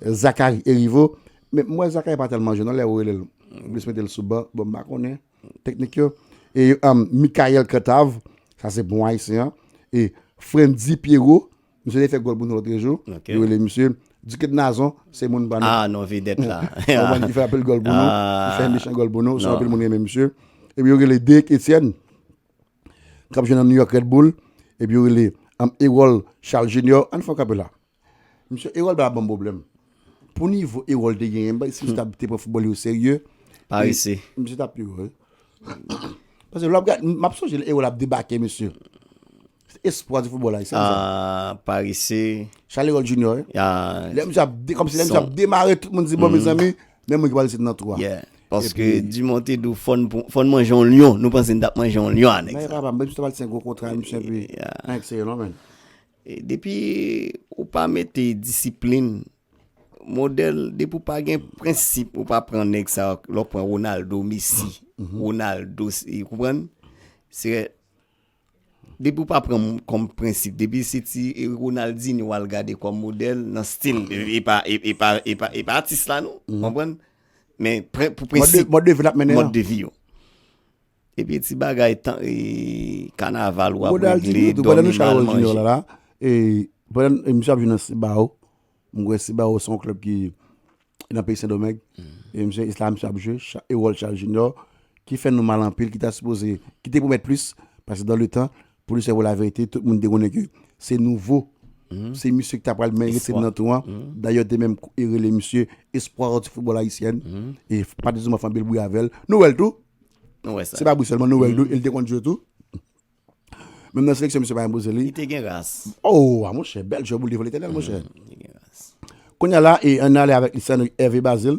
Zacharie Heriveau men m wè Zacharie pa tèlman jwe non lè ou rele l ou plis mete l sou ban bon m pa konnen teknik yo e Michaël Cantave sa se bon ayisyen e Frantzy Pierrot misye te fè gòl pou nou lòtrejou yo rele misye Duquet Nazon se moun pa nou a non vedèt la ou konprann li fè anpil gòl pou nou li fè mechant gòl pou nou se anpil moun renmen misye epi yo rele Derick Etienne k ap jwe nan New York Red Bull epi yo rele Erol Charles Junior ann fè yon kanpe la. Misye Erol ba banm problème. Pou nivo Erol te genyen bay si misye ta te pran football li o serye. Parese. Misye ta pi wo. Pase lò ap gad map sonje lè Erol ap debake misye. Espwa di football ayisyen. Ah, parese. Charles Erol Junior. Ah. Lè misye ap de, kom si lè misye ap demare tout moun di bon mes amis, men moun ki pral sit nan tou a. Yeah. Paske Dumont te dou fòn fòn manje yon lion, nou panse n tap manje yon lion anèk sa. Nan e pa pa, men misye ta pral sen gwo kontra misye pi. Yeah. Anèk se yo non men. Depi ou pa mete disiplin modèl depi ou pa gen prensip ou pa pran nèg sa lè ou pran Ronaldo Messi Ronaldo ou konprann se depi ou pa pran kòm prensip depi se ti Ronaldinho wal gade kòm modèl nan stil e pa e pa e pa e pa atis la non ou konprann men pou prensip mòd de vi yo. Epi ti bagay tan kanaval wap regle domi mal manje. Misye ap jwe nan Cibao, mwen kwè Cibao se yon klèb ki nan peyi Sendomeng, e misye la misye ap jwe, e wòl Charles Junior ki fè nou mal anpil, ki ta sipoze, ki te pwomèt plis, pase dan le tan, Pou di se pou la verite tout moun te konnen ke se nouvo se misye ki ta pral men rete nan tou an dayè yo te menm rele misye espoir du football haïtien e Patrice Dumont fè anpil bri avèl nou wèl tou se pa bri sèlman nou wèl tou el te konn jwe tou menm nan seleksyon misye pa enpoze li li te gen ras oh a monchè bèl jwè pou li te vole tènèl monchè kounye la e an ale avèk li se Hervé Bazile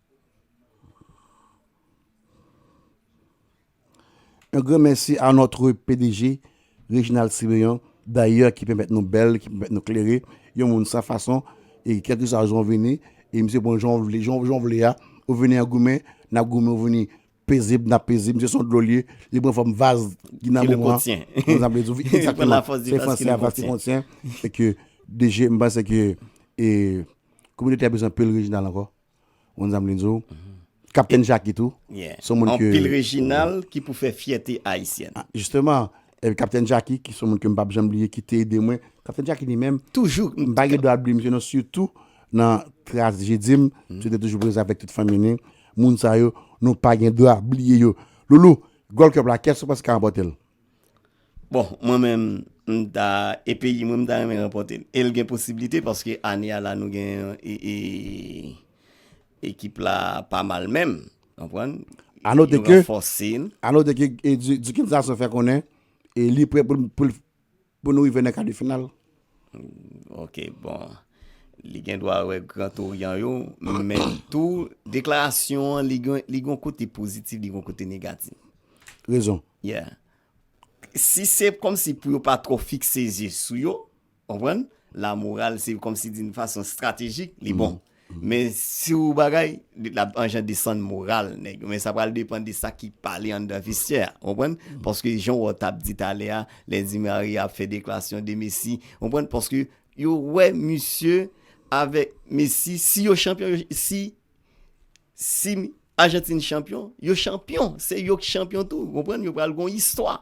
Yon gran mèsi a notre pdg Reginald Siméon dayè ki pèmèt nou bèl, ki pèmèt nou klere, yon moun san fason e kèlkeswa jan w vini e misye pran w jan w vle, jan w vle a, ou vini an goumen, n ap goumen, ou vini pezib, n ap pezib, misye se yon dlo l ye, li pran fòm vaz ki nan mou an, kòm sa m vle di w, egzakteman, se franse a vaz ki kontyen, e ke DG, m panse ke e kominote a bezwen anpil Reginald ankò. Moun sa m vle di w. Kaptenn Jaki tou. Yeah. Son moun ke. Anpil Reginald ki pou fè fyète Ayisyèn. Justement. Epi Kaptenn Jaki ki son moun ke m pap janm bliye ki te ede mwen. Kaptenn Jaki li menm. Toujou. M pa gen dwa bliye misye non sitou nan trajedi m. Misye te toujou prezan avèk tout fanmi li. Moun sa yo nou pa gen dwa bliye yo. Loulou, Gold Cup la kès ou panse ki ka ranpòte l? Bon mwen menm m ta e peyi mwen m ta renmen ranpòte l e l gen posiblite paske ane a la nou gen e ekip la pa mal menm konprann a note ke a note ke Duke Nsason fè konnen e li prè pou l pou l Pou nou rive nan ka de final. Ok bon li gen dwa wè gran toryan yo men tou deklarasyon an li gon kote pozitif li gon kote negatif. Rezon. Yeah. Si se kòm si pou yo pa trò fikse zye sou yo, konprann? La moral se kòm si di n fason estratejik li bon. Men si ou bagay, li t ap anjan desann moral nèg yo. Men sa pral depan de sa ki pale anndan vestyè a. Ou konprann? Paske jan wò t ap di talè a, lè Di Maria ap fè deklarasyon de Messi. Ou konprann? Paske yo wè misye avèk Messi, si yo chanpyon, si Si Ajantin chanpyon, yo chanpyon. Se yo ki chanpyon tou. Konprann? Yo pral gon istwa.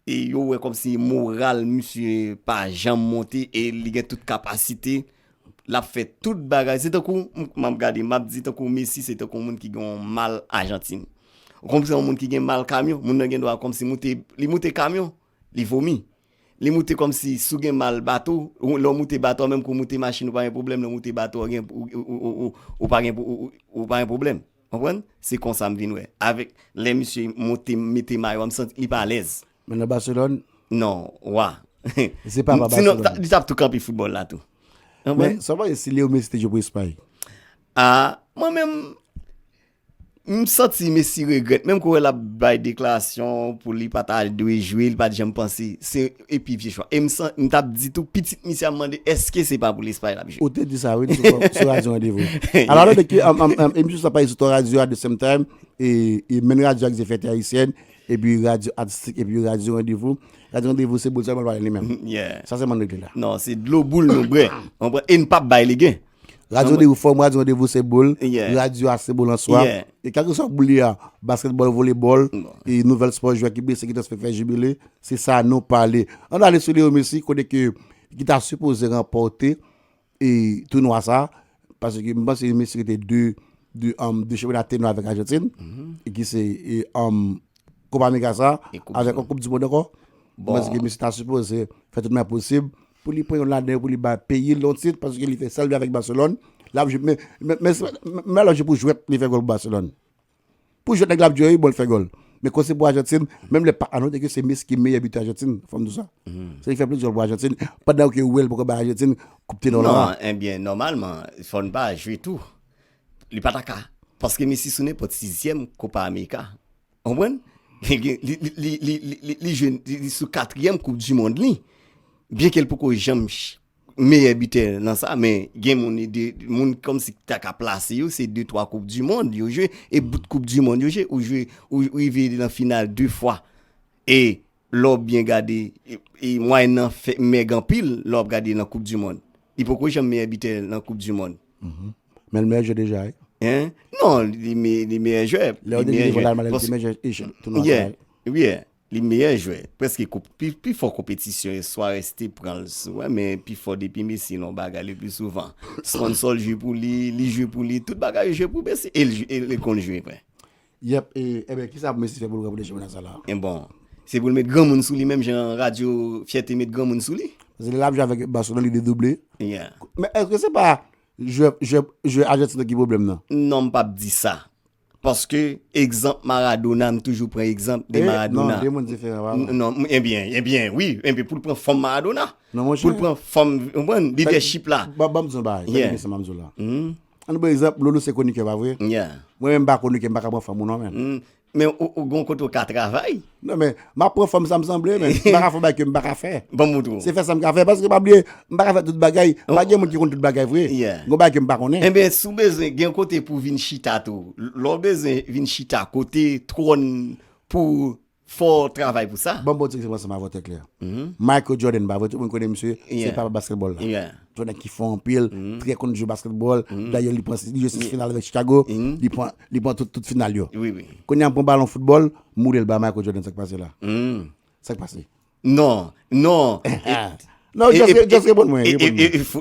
E yo wè kòmsi moral misye pa janm monte e li gen tout kapasite. L ap fè tout bagay. Se tankou m ap gade, m ap di tankou Messi se tankou yon moun ki gen yon mal Ajantin. Ou konprann? Se yon moun ki gen mal kamyon. Moun nan gendwa kòmsi moute, li moute kamyon, li vomi. Li moute kòmsi si w gen mal bato, lè w moute bato a menm ke w moute machin ou pa gen pwoblèm, lè w moute bato a ou pa gen pwoblèm. Konprann? Se konsa m vin wè. Avèk lè misye moute mete mayo a m santi li pa alèz. Men nan Barcelone? Non, wa. Se pa pa Barcelone. Sinon li t ap tou kanpe foutbòl la tou. Men sa w panse si Leo Messi te jwe pou Espay? A, mwen menm, M santi Messi regrèt, menm kouwè lap bay deklarasyon pou li pa ta dwe jwe, li pa t janm panse se e pi vye chwa. E m san m tap di tou pitit misye ap mande eske se pa pou Lespay lap jwe. Ou te di sa wi sou radyo Randevou. Alò ale de ke emisyon sa pase sou 3 radyo at de sem time e menn radyo ak zefète ayisyèn e pi radyo atistik e pi radyo Randevou. Radyo Randevou se boul sèlman l pale li menm. Sa sèlman n regle la. Non se dlo boul nou bwè. E n pap bay legen. Radyo de ou fòm, radyo an de vou se boul, radyo a se boul an swa. E kèlke swa boul li a, basketball, volleyball, e nouvèl sport jwè ki blese, ki transfere, fè jibile, se sa nou pale. An nou ale sou Leo Messi, kote ke ki ta supoze remporte e tou nou a sa, pase ki mba se yon Messi ki te de, de am, de cheve la tenwa avèk Argentine, e ki se am, Kopa Amerika sa, avèk an koup di moun ankò, mba se ki Messi ta supoze fè tout mè posib, Pou li pran yon ladan yo pou li bay peyil yon tit paske li fè sal vle avèk Barcelone lap jwe men men lap jwe pou jwèt li fè gòl pou Barcelone pou jwèt nèg la ap jwe wi bon li fè gòl men kon se pou Argentine menm lè pa anonte ke se Messi ki meyè bitè Argentine fòm di w sa se li fè plis gòl pou Argentine pandan ke wèl poko bay Argentine koup tenò la non enbyen nòmalman fò n pa jwe tou li pa ta ka paske Messi sou nenpòt 6 zièm Copa America Ou konprann? Li jwe sou katriyèm koup di mond li, byen ke l poko janm meyè bitè nan sa, men gen moun li de, moun kòm si ta ka plase yo, se 2, 3 koup di mond yo jwe, e bout koup di mond yo jwe, ou jwe, ou rive nan final 2 fwa, e. Lè w byen gade, mwayèn nan fè mèg anpil lè w ap gade nan koup di mond. Li poko janm meyè bitè nan koup di mond. Men l meyè jwè deja wi. Hein? Non, li meyè jwè. Lè yo te di Rival Almada li te meyè jwè tounwa sa a. Wi, li meyè jwè. Prèske koup, pi fò konpetisyon yo Suarez te pran l sou wè men pi fò depi Messi nan yon bagay le pli souvan sponsor l jwe pou li, li jwe pou li, tout bagay yo jwe pou Messi e li konn jwe vre. Yep e enben kisa pou Messi fè poul ranpòte chanpyona sa la? En bon Se poul met granmoun sou li menm jan radyo fyète met granmoun sou li. Paske lè lap jwe avèk Barcelone li dedouble. Yeah. Men eske se pa jwè jwè jwè Argentine nan ki pwoblèm nan? Non m pap di sa. Paske egzanp Maradona m toujou pran egzanp de Maradona. Non, 2 moun diferan pa la. Non, enbyen, enbyen wi, enbyen poul pran fòm Maradona. Non monchè. Poul pran fòm, ou konprann, lidèchip la. Banm di w yon bagay, gade byen sa map di w la. An nou pran egzanp loulou se konikè pa vre? Mwen menm m pa konikè m pa ka pran fanm ou non menn. Men ou gon kote ou ka travay. Non men m ap pran fanm sa m sanble men m pa ka fè yon bagay ke m pa ka fè. Ban m montre w. Se fè sa m ka fè paske pa bliye m pa ka fè tout bagay pa gen moun ki konn tout bagay vre. Gon bagay ke m pa konnen. Enben si w bezwen gen yon kote pou w vin chita tou. Lè w bezwen vin chita kote twòn pou. Fòw travay pou sa. Banm bon ti egzanp ansanm avèw tè klè. Michael Jordan pa vre tout moun konnen misye se papa basketball la. Se yon nèg ki fò anpil, trè konn jwe basketball, dayè li pran li jwe 6 final avèk Chicago, li pran li pran tout tout final yo. Kounya pran balon football moulel ba Michael Jordan sak pase la? Sak pase? Non, non. Non, just repon mwen.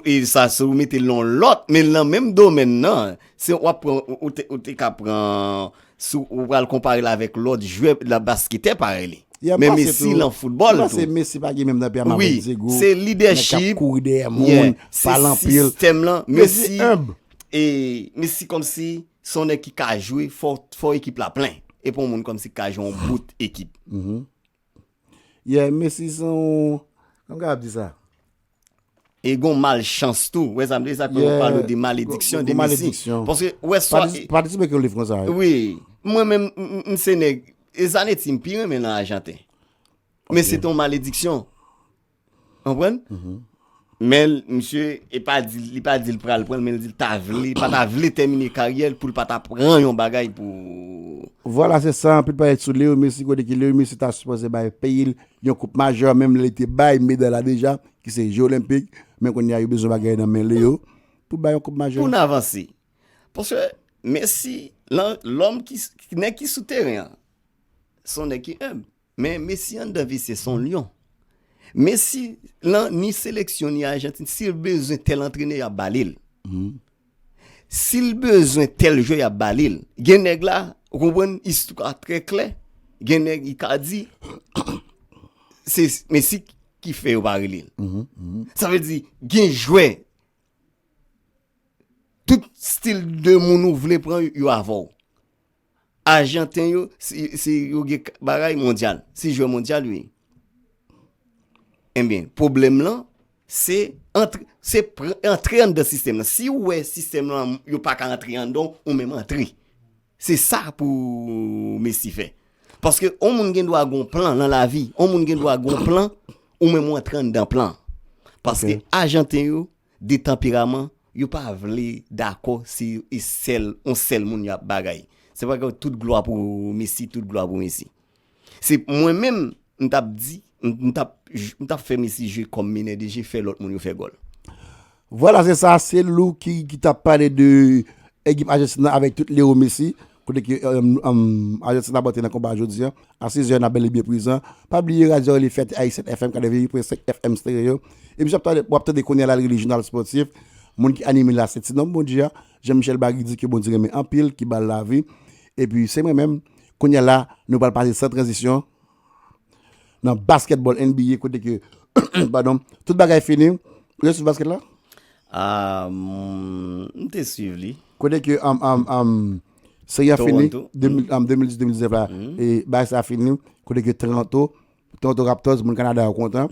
E sa se ou mete lon lot, men lan menm domen nan, se ou ap pran, ou te ka pran, se ou pral konpare la vek lot jwe la baskete pare li. Men mesi lan football tou. Mwen se mesi pa gen menm nan pya mabou di go. Se leadership. Mwen kap kouri de moun, palan pil. Se sistem lan. Mesi humb. E mesi kom si, son ek ki ka jwe, fo ekip la plen. E pon moun kom si ka jwe an bout ekip. Yeah Messi se yon Kòman m kapab di sa? E gen yon malchans tou, ou wè sa m vle di? Sa fè yo pale de malediksyon de Messi. Yeah, gon malediksyon. Paske ou wè sa M patisipe ak yon liv konsa wi. Wi. Mwen menm m se nèg, e Zanetti m pi renmen nan Ajanten. Men se te yon malediksyon. Konprann? Men misye e pa di li pa di li pral pran men li di li ta vle pa ta vle tèmine karyè l pou l pa ta pran yon bagay pou Vwala se sa anpil pale sou Leo Messi kote ki Leo Messi ta sipoze bay peyi l yon koup majè menm lè li te bay meday la deja ki se je olenpik men kounye a yo bezwen bagay nan men Leo pou bay yon koup majè. Pou n avanse paske Messi lòm ki nèg ki sou teren an se yon nèg ki enb. Men Messi anndan visye son lyon. Messi lan ni seleksyon ni Argentine sil bezwen tel antrenè yap balil. Sil bezwen tel jwè yap balil. Gen nèg la ou konprann istwa trè klè gen nèg Icardi se Messi ki fè yo pa relel. Sa vle di gen jwè tout stil de moun ou vle pran yo avèw. Ajanten yo si yo gen bagay mondyal, si jwè mondyal yo ye. Enben, pwoblèm lan, se antre an dan sistèm lan. Si ou wè sistèm lan, yo pa ka antre an dan, ou menm antre. Se sa pou Messi fè. Paske ou moun gen dwa gon plan nan lavi, ou moun gen dwa gon plan, ou menm ou antre an dan plan. Paske ajanten yo, de tanperaman, yo pa vle dakò se sèl yon sèl moun yap bagay. Se pa ke tout glwa pou Messi, tout glwa pou Messi. Se mwen menm m tap di, m tap m tap fè Messi jwe kòm menè de je, fè lòt moun yo fè gòl. Vwala se sa, se Lou ki tap pale de ekip Ajantin nan avèk tout Leo Messi. Kote ki Ajan Ti Laban te nan konba a jodi a? A 6 zè n ap bèl e byen prezan. Pa bliye radyo a rele Fèt Ayisyen FM 88.5 FM Stereo. Emisyon w ap tande kounye a la li rele Jounal Spòtif. Moun ki anime l la se Tinonm Bondye a, Jan Michèl Bagidi ke Bondye renmen anpil, ki ba l lavi. Epi se mwen menm. Kounye a la nou pral pase san tranzisyon Nan basketball NBA kote ke pardon tout bagay fini ou te swiv basket la? Aah m te swiv li. Kote ke seri a fini 2010-2019 la e bagay sa fini kote ke Toronto Raptors moun Canada yo kontan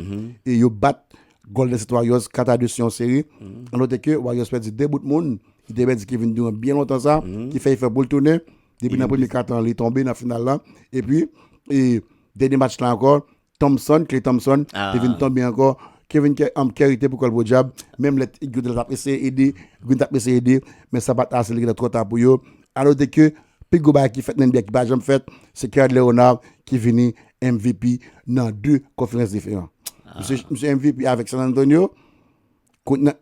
e yo bat Golden State Warriors 4 a 2 sou yon seri a note ke Warriors pèdi 2 bout moun ki te pèdi Kevin Durant byen lontan sa ki fè efò pou l tounen. Depi nan premye katan li tonbe nan final la. E pi, e dènye match la ankò, Thompson, Klay Thompson, te vin tonbe ankò. Kevin Curry te pou kòl podyab, menm lè Green te ap eseye ede, Green te ap eseye ede, men sa pa t ase, li gentan twò ta pou yo. A note ke pi gwo bagay ki fèt nan NBA ki pa janm fèt, se Kawhi Leonard ki vini MVP nan 2 konferans diferan. Misye, misye MVP avèk San Antonio.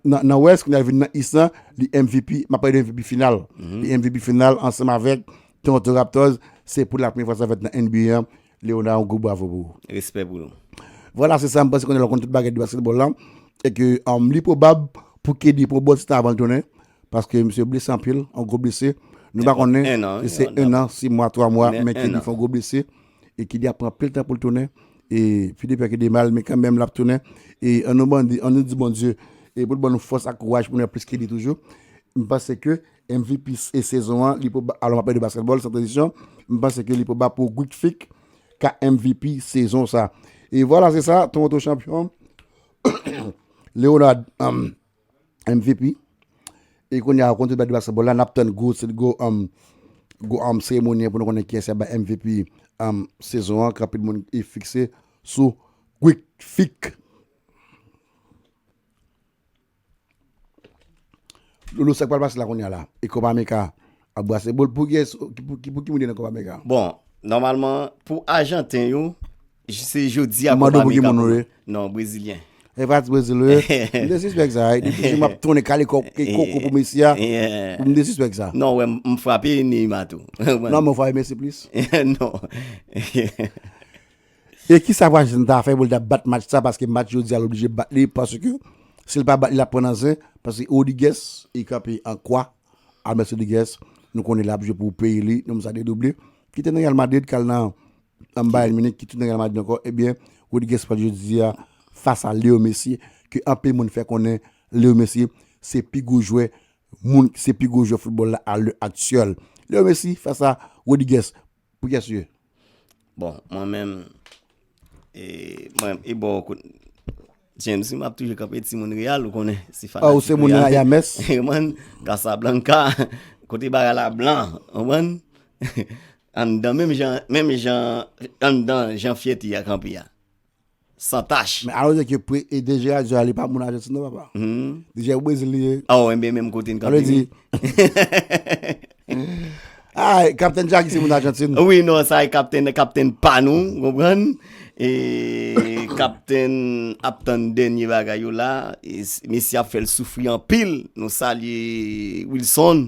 Nan West kounye a li vin nan East lan, li MVP, m ap pale de MVP final. Li MVP final ansanm avèk Toronto Raptors, se pou la premye fwa sa fèt nan NBA an, Léonard yon gwo bravo pou ou. Respè pou nou. Vwala se sa m panse kounye a l konn tout bagay de basketball lan e ke li pwobab pou KD pran bon ti tan avan l tounen paske misye blese anpil, yon gwo blese, nou pa konnen si se 1 an, 6 mwa, 3 mwa men KD fè yon gwo blese. Nenpòt 1 an. e ki li ap pran anpil tan pou l tounen e pi de pè ke de mal men kanmenm l ap tounen e an nou mande an nou di Bondye e pou l ban nou fòs ak kouraj pou nou ap plis ke li toujou m panse ke MVP e sezon an li pou ba alò m ap pale de baskètbòl san tranzisyon m panse ke li pou ba pou Guic Phique ka MVP sezon sa e vwala se sa Toronto chanpyon Leonard MVP E kounye a konte bèt basketball la nap tann gwo gwo um gwo um seremoni pou nou konnen kiyès ki ap bay MVP um sezon an ke anpil moun e fikse sou Quick Fik. Loulou sak pral pase la kounye a la e Copa America Ap brase bol pou gyès ki pou ki moun ki nan kopa mega. Bon nòmalman pou ajanten yo se jodi a kopa mega pou yo. Non brezilyen. E pa ti brezil yo. M te sispèk sa. Depi toujou map tonnen kale kòk e koko pou Messi a. M te sispèk sa. Non wè m frape Neymar tou. Non men ou frape Messi plis. Non. E kisa Washington ta fè pou l ta bat match sa paske match jodi a l oblije bat li paske si l pa bat li l ap pran nan zen paske Rodriguez li kanpe an kwa Almes Rodriguez nou konnen lap jwe pou peyi li nonm sa dedouble ki te nan Real Madrid kal nan Bayern Munich ki tou nan Real Madrid ankò ebyen Rodriguez pral jodi a fas a Leo Messi ke anpil moun fè konnen Leo Messi se pi gwo jwè moun se pi gwo jwè foutbòl la a lè aktyèl Leo Messi fas a Rodriguez Pou kiyès ou ye? Bon, mwen menm, e, mwen, e bò kote, James, m ap toujou kanpe ti moun Reyal, ou konnen, se fanatik Reyal. Ou se moun Reyal, mès. E mwen, Casablanca, kote bagay la blan, ou mwen, anndan, menm jan, menm jan, anndan, jan fyète a kanpe a. San tach. Men alon jè ke pre e de Gerard Joy a li pa moun Argentine non papa. De jè ou Brésil li ye. Oh enben menm kote n kanpe ni. Ah Captain Jackie se moun Argentine. Oui non sa e Captain Captain pa nou ou konprann. E Captain ap tann dènye bagay yo la. Mesye ap fè l soufri anpil. Nou salye Wilson.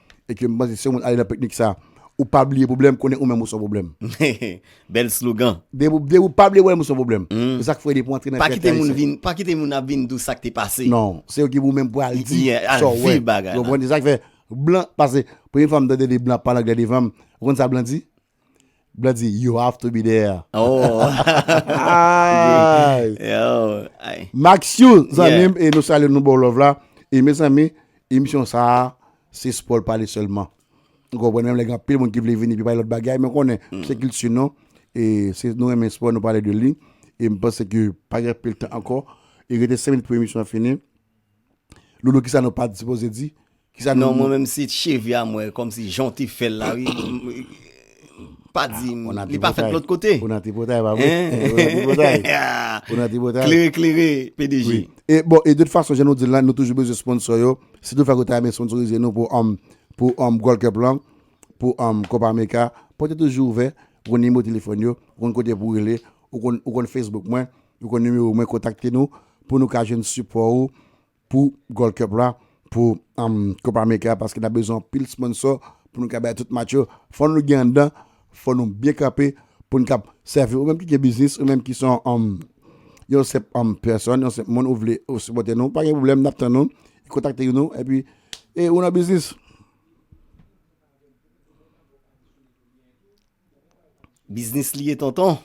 E ke m panse si yon moun ale nan peknik sa ou pa bliye pwoblèm konnen ou menm ou son pwoblèm. Bèl slogan. Depi ou pa bliye pwoblèm ou son pwoblèm. Se sa k fè depi w antre nan kèk ayisyen. Pa kite moun vin, pa kite moun ap vin di w sa k te pase. Non, se yo ki pou menm pou al di sa w wè. Ou konprann se sa k fè blan pase. Premye fwa m tande de blan pale anglè devan m, ou konn sa blan di? Blandy you have to be there. Maxiou zanmim e nou salye nou baw love la e mezanmi emisyon sa se sport pale selman ou konprann menm lè gen anpil moun ki vle vini pi pale lòt bagay men konnen se kilti nou e se nou renmen sport nou pale de li e mpanse ke pa gen anpil tan ankò e rete 5 minit pou emisyon an fini. Loulou kisa nou pa sipoze di? Non mwen menm se cheve a mwen kòmsi jan w te fè l la wi pa di m li pa fèt lòt kote ou nan tripotay pa vre ou nan tripotay klere klere pdg e bon e de tout fason jan nou di l la nou toujou bezwen sponsò yo si tou fèk ou ta renmen sponsorize nou pou anm pou anm gold cup lan pou anm copa america pòt yo toujou ouvè ou konn nimewo telefòn yo ou konn kote pou rele ou konn ou konn facebook mwen. Nou konn nimewo mwen kontakte nou pou nou ka jwenn sipò ou pou Gold Cup la pou Copa America paske nap bezwen anpil sponsò pou nou ka bay tout match yo fò nou gen anndan fò nou byen kanpe pou nou kap sèvi ou menm ki gen biznis ou menm ki son yon senp pèsòn yon senp moun ou vle ou sipòte nou pa gen pwoblèm nap tann ou kontakte yon nou epi e ou nan biznis. Biznis li ye tonton.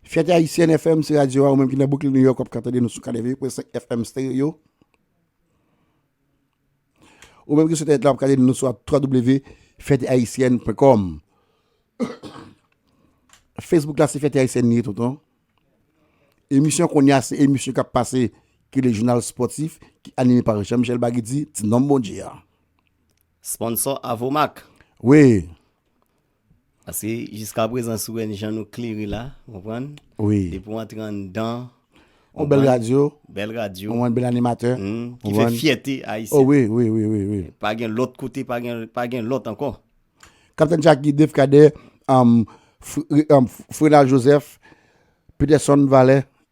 Fyète Ayisyèn FM se radyo a ou menm ki nan Brooklyn New York wap ka tande nou sou 88.5 FM stereo. Ou menm ki sou entènèt la wap ka tande nou sou www.fyetehaitienne.com. Facebook la se Fyète Ayisyèn li ye tonton. Emisyon konya se emisyon kap pase ki le jounal sportif ki anime par Jean Michel Baguidi, ti nonm Bondye a. Sponsor Avomac. Wi. Paske jiska prezan si w wè jan nou klere la, ou konprann? Wi. Depi w antre anndan. Yon bèl radyo. Bèl radyo. Ou konprann? Bèl animatè. Ou konprann? Ki fè fyète Ayisyen. O wi, wi, wi, wi, wi. Pa gen lòt kote, pa gen, pa gen lòt ankò. Kaptenn Jacky, Dave Cadet, Frenald Joseph, Peterson Valè,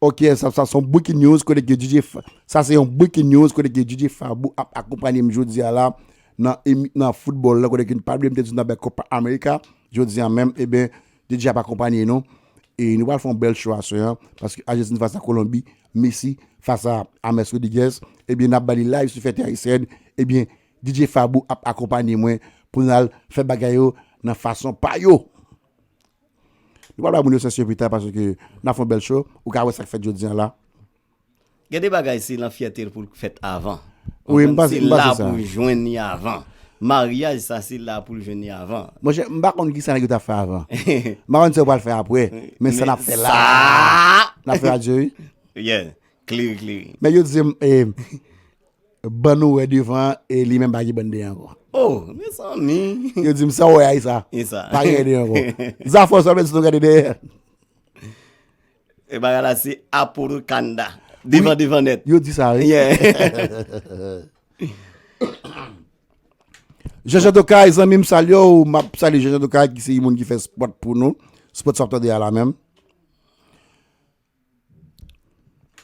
Ok sa sa son breaking news kote ke DJ sa se yon breaking news kote ke DJ Fabou ap akonpanye m jodi a la nan nan football la kote ke nou pa bliye m te di nan bè Copa America jodi a menm eben DJ ap akonpanye nou e nou pral fè yon bèl show aswè an paske Argentine fas a Colombie Messi fas a James Rodriguez eben nap ba li live sou fète Ayisyen eben DJ Fabou ap akonpanye mwen pou nal fè bagay yo nan fason pa yo. Nou pral bay moun yo sens yo pita paske nap fè yon bèl show, ou ka wè sak fèt jodi an la. Gen de bagay se lan fyète l pou l k fèt avan. Wi m panse sa. Se la pou l jwenn li avan. Maryaj sa se la pou l jwenn li avan. Monchè m pa konn kisa nèg yo tap fè avan. M pa konn sa yo pral fè apre. Men sa nap fè la. Nap fè radio wi. Yeah. Klere klere. Men yo di m Ban nou wè devan e li menm pa gen ban dèyè ankò. Oh, mezanmi. Yo di m sa wè a Isa. Isa. Pa gen dèyè ankò. Zafè w sèlman si nou gade dèyè. E bagay la se Aporo Kanda. Devan devan nèt. Yo di sa wè. Yeah. Jeje Dokay zanmi m salye w. M ap salye Jeje Dokay ki se yon moun ki fè spot pou nou. Spot sa w ap tande a la menm.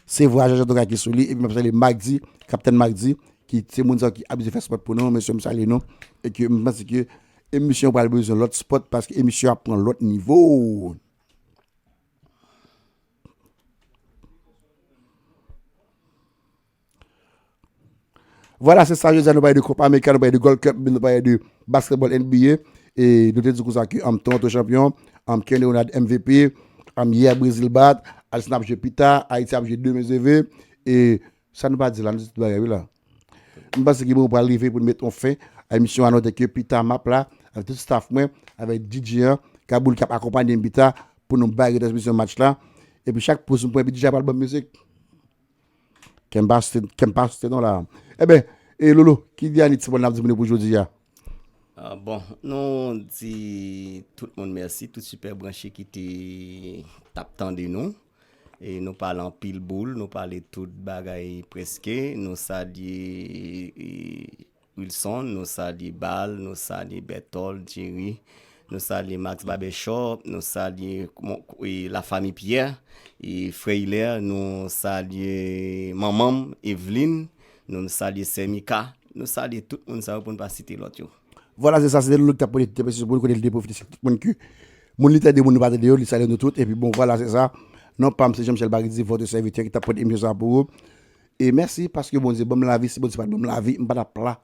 Se vwa Jean Jean Toka ki sou li epi map salye Magdy, Captain Magdy ki se moun sa yo ki abize fè spot pou nou, mesye m salye nou e ke m panse ke emisyon pral bezwen lòt spot paske emisyon ap pran lòt nivo. Vwala se sa jodi a nou pale de Copa America, nou pale de Gold Cup, nou pale de Basketball NBA e nou te di kousa ki am Toronto champion, am Ken Leonard MVP, am Yea Brazil bat, Argentina ap jwe pita, Haiti ap jwe demen je ve e sa nou pa di la, nou di tout bagay wi la. M panse ki bon pral rive pou nou met on fen a emisyon an note ke pita map la avèk tout staff mwen, avèk DJ an, Kaboul kap akonpanye m pita pou nou bay retransmisyon match la epi chak poz m pran epi DJ a pral banm mizik. Kèm pa sote, kèm pa sote non la. E ben, e Lolo, ki dèni ti mo nap di moun yo pou jodi a? Bon, nou di tout moun mèsi, tout sipè branche ki te tap tande nou. E nou pale anpil boul, nou pale tout bagay preske, nou salye Wilson, nou salye Bal, nou salye Bètòl, Djeri, nou salye Max Babèchòp, nou salye Lafami Pyè, Frè Ilè, nou salye manman m, Evlin, nou salye Sè Mika, nou salye tout moun sa yo pou n pa site lòt yo. Vwala se sa, se te Lolo ki t ap pote ti tèpè sou moun kote li te pwofite sèk tout moun ki moun li tande, moun li pa tande yo, li salye nou tout epi bon vwala se sa, non pa m se Jean Michel Baritzy, vòtr sèvitè ki t ap pote emisyon sa a pou ou. E mèsi paske Bondye banm lavi si Bondye pat banm lavi m pa tap la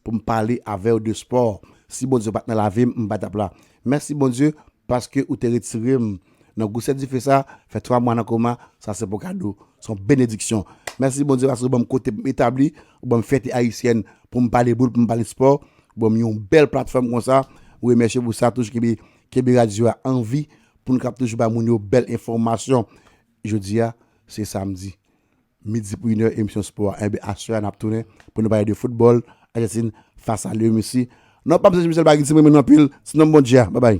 poum pale avèw de sport si Bondye pat nan lavim m pa tap la mèsi Bondye paske ou te retirem nan gwosè dife sa fè 3 mwa nan koma sa se pou kado son benediksyon mèsi Bondye paske ou banm kote poum etabli ou banm fyète ayisyèn poum pale boul poum pale sport ou banm yon bèl platfòm konsa m remèsye pou sa toujou kenbe kenbe radyo a anvi poun kap toujou bay moun yo bèl enfòmasyon Jodi a se samdi midi pou inè emisyon spò a enben aswè a nap tounen pou nou pale de foutbòl Ajantin fas a Lrmisi non pam Serge Michel Baginti m renmen nou anpil ti nonm Bondye a babay.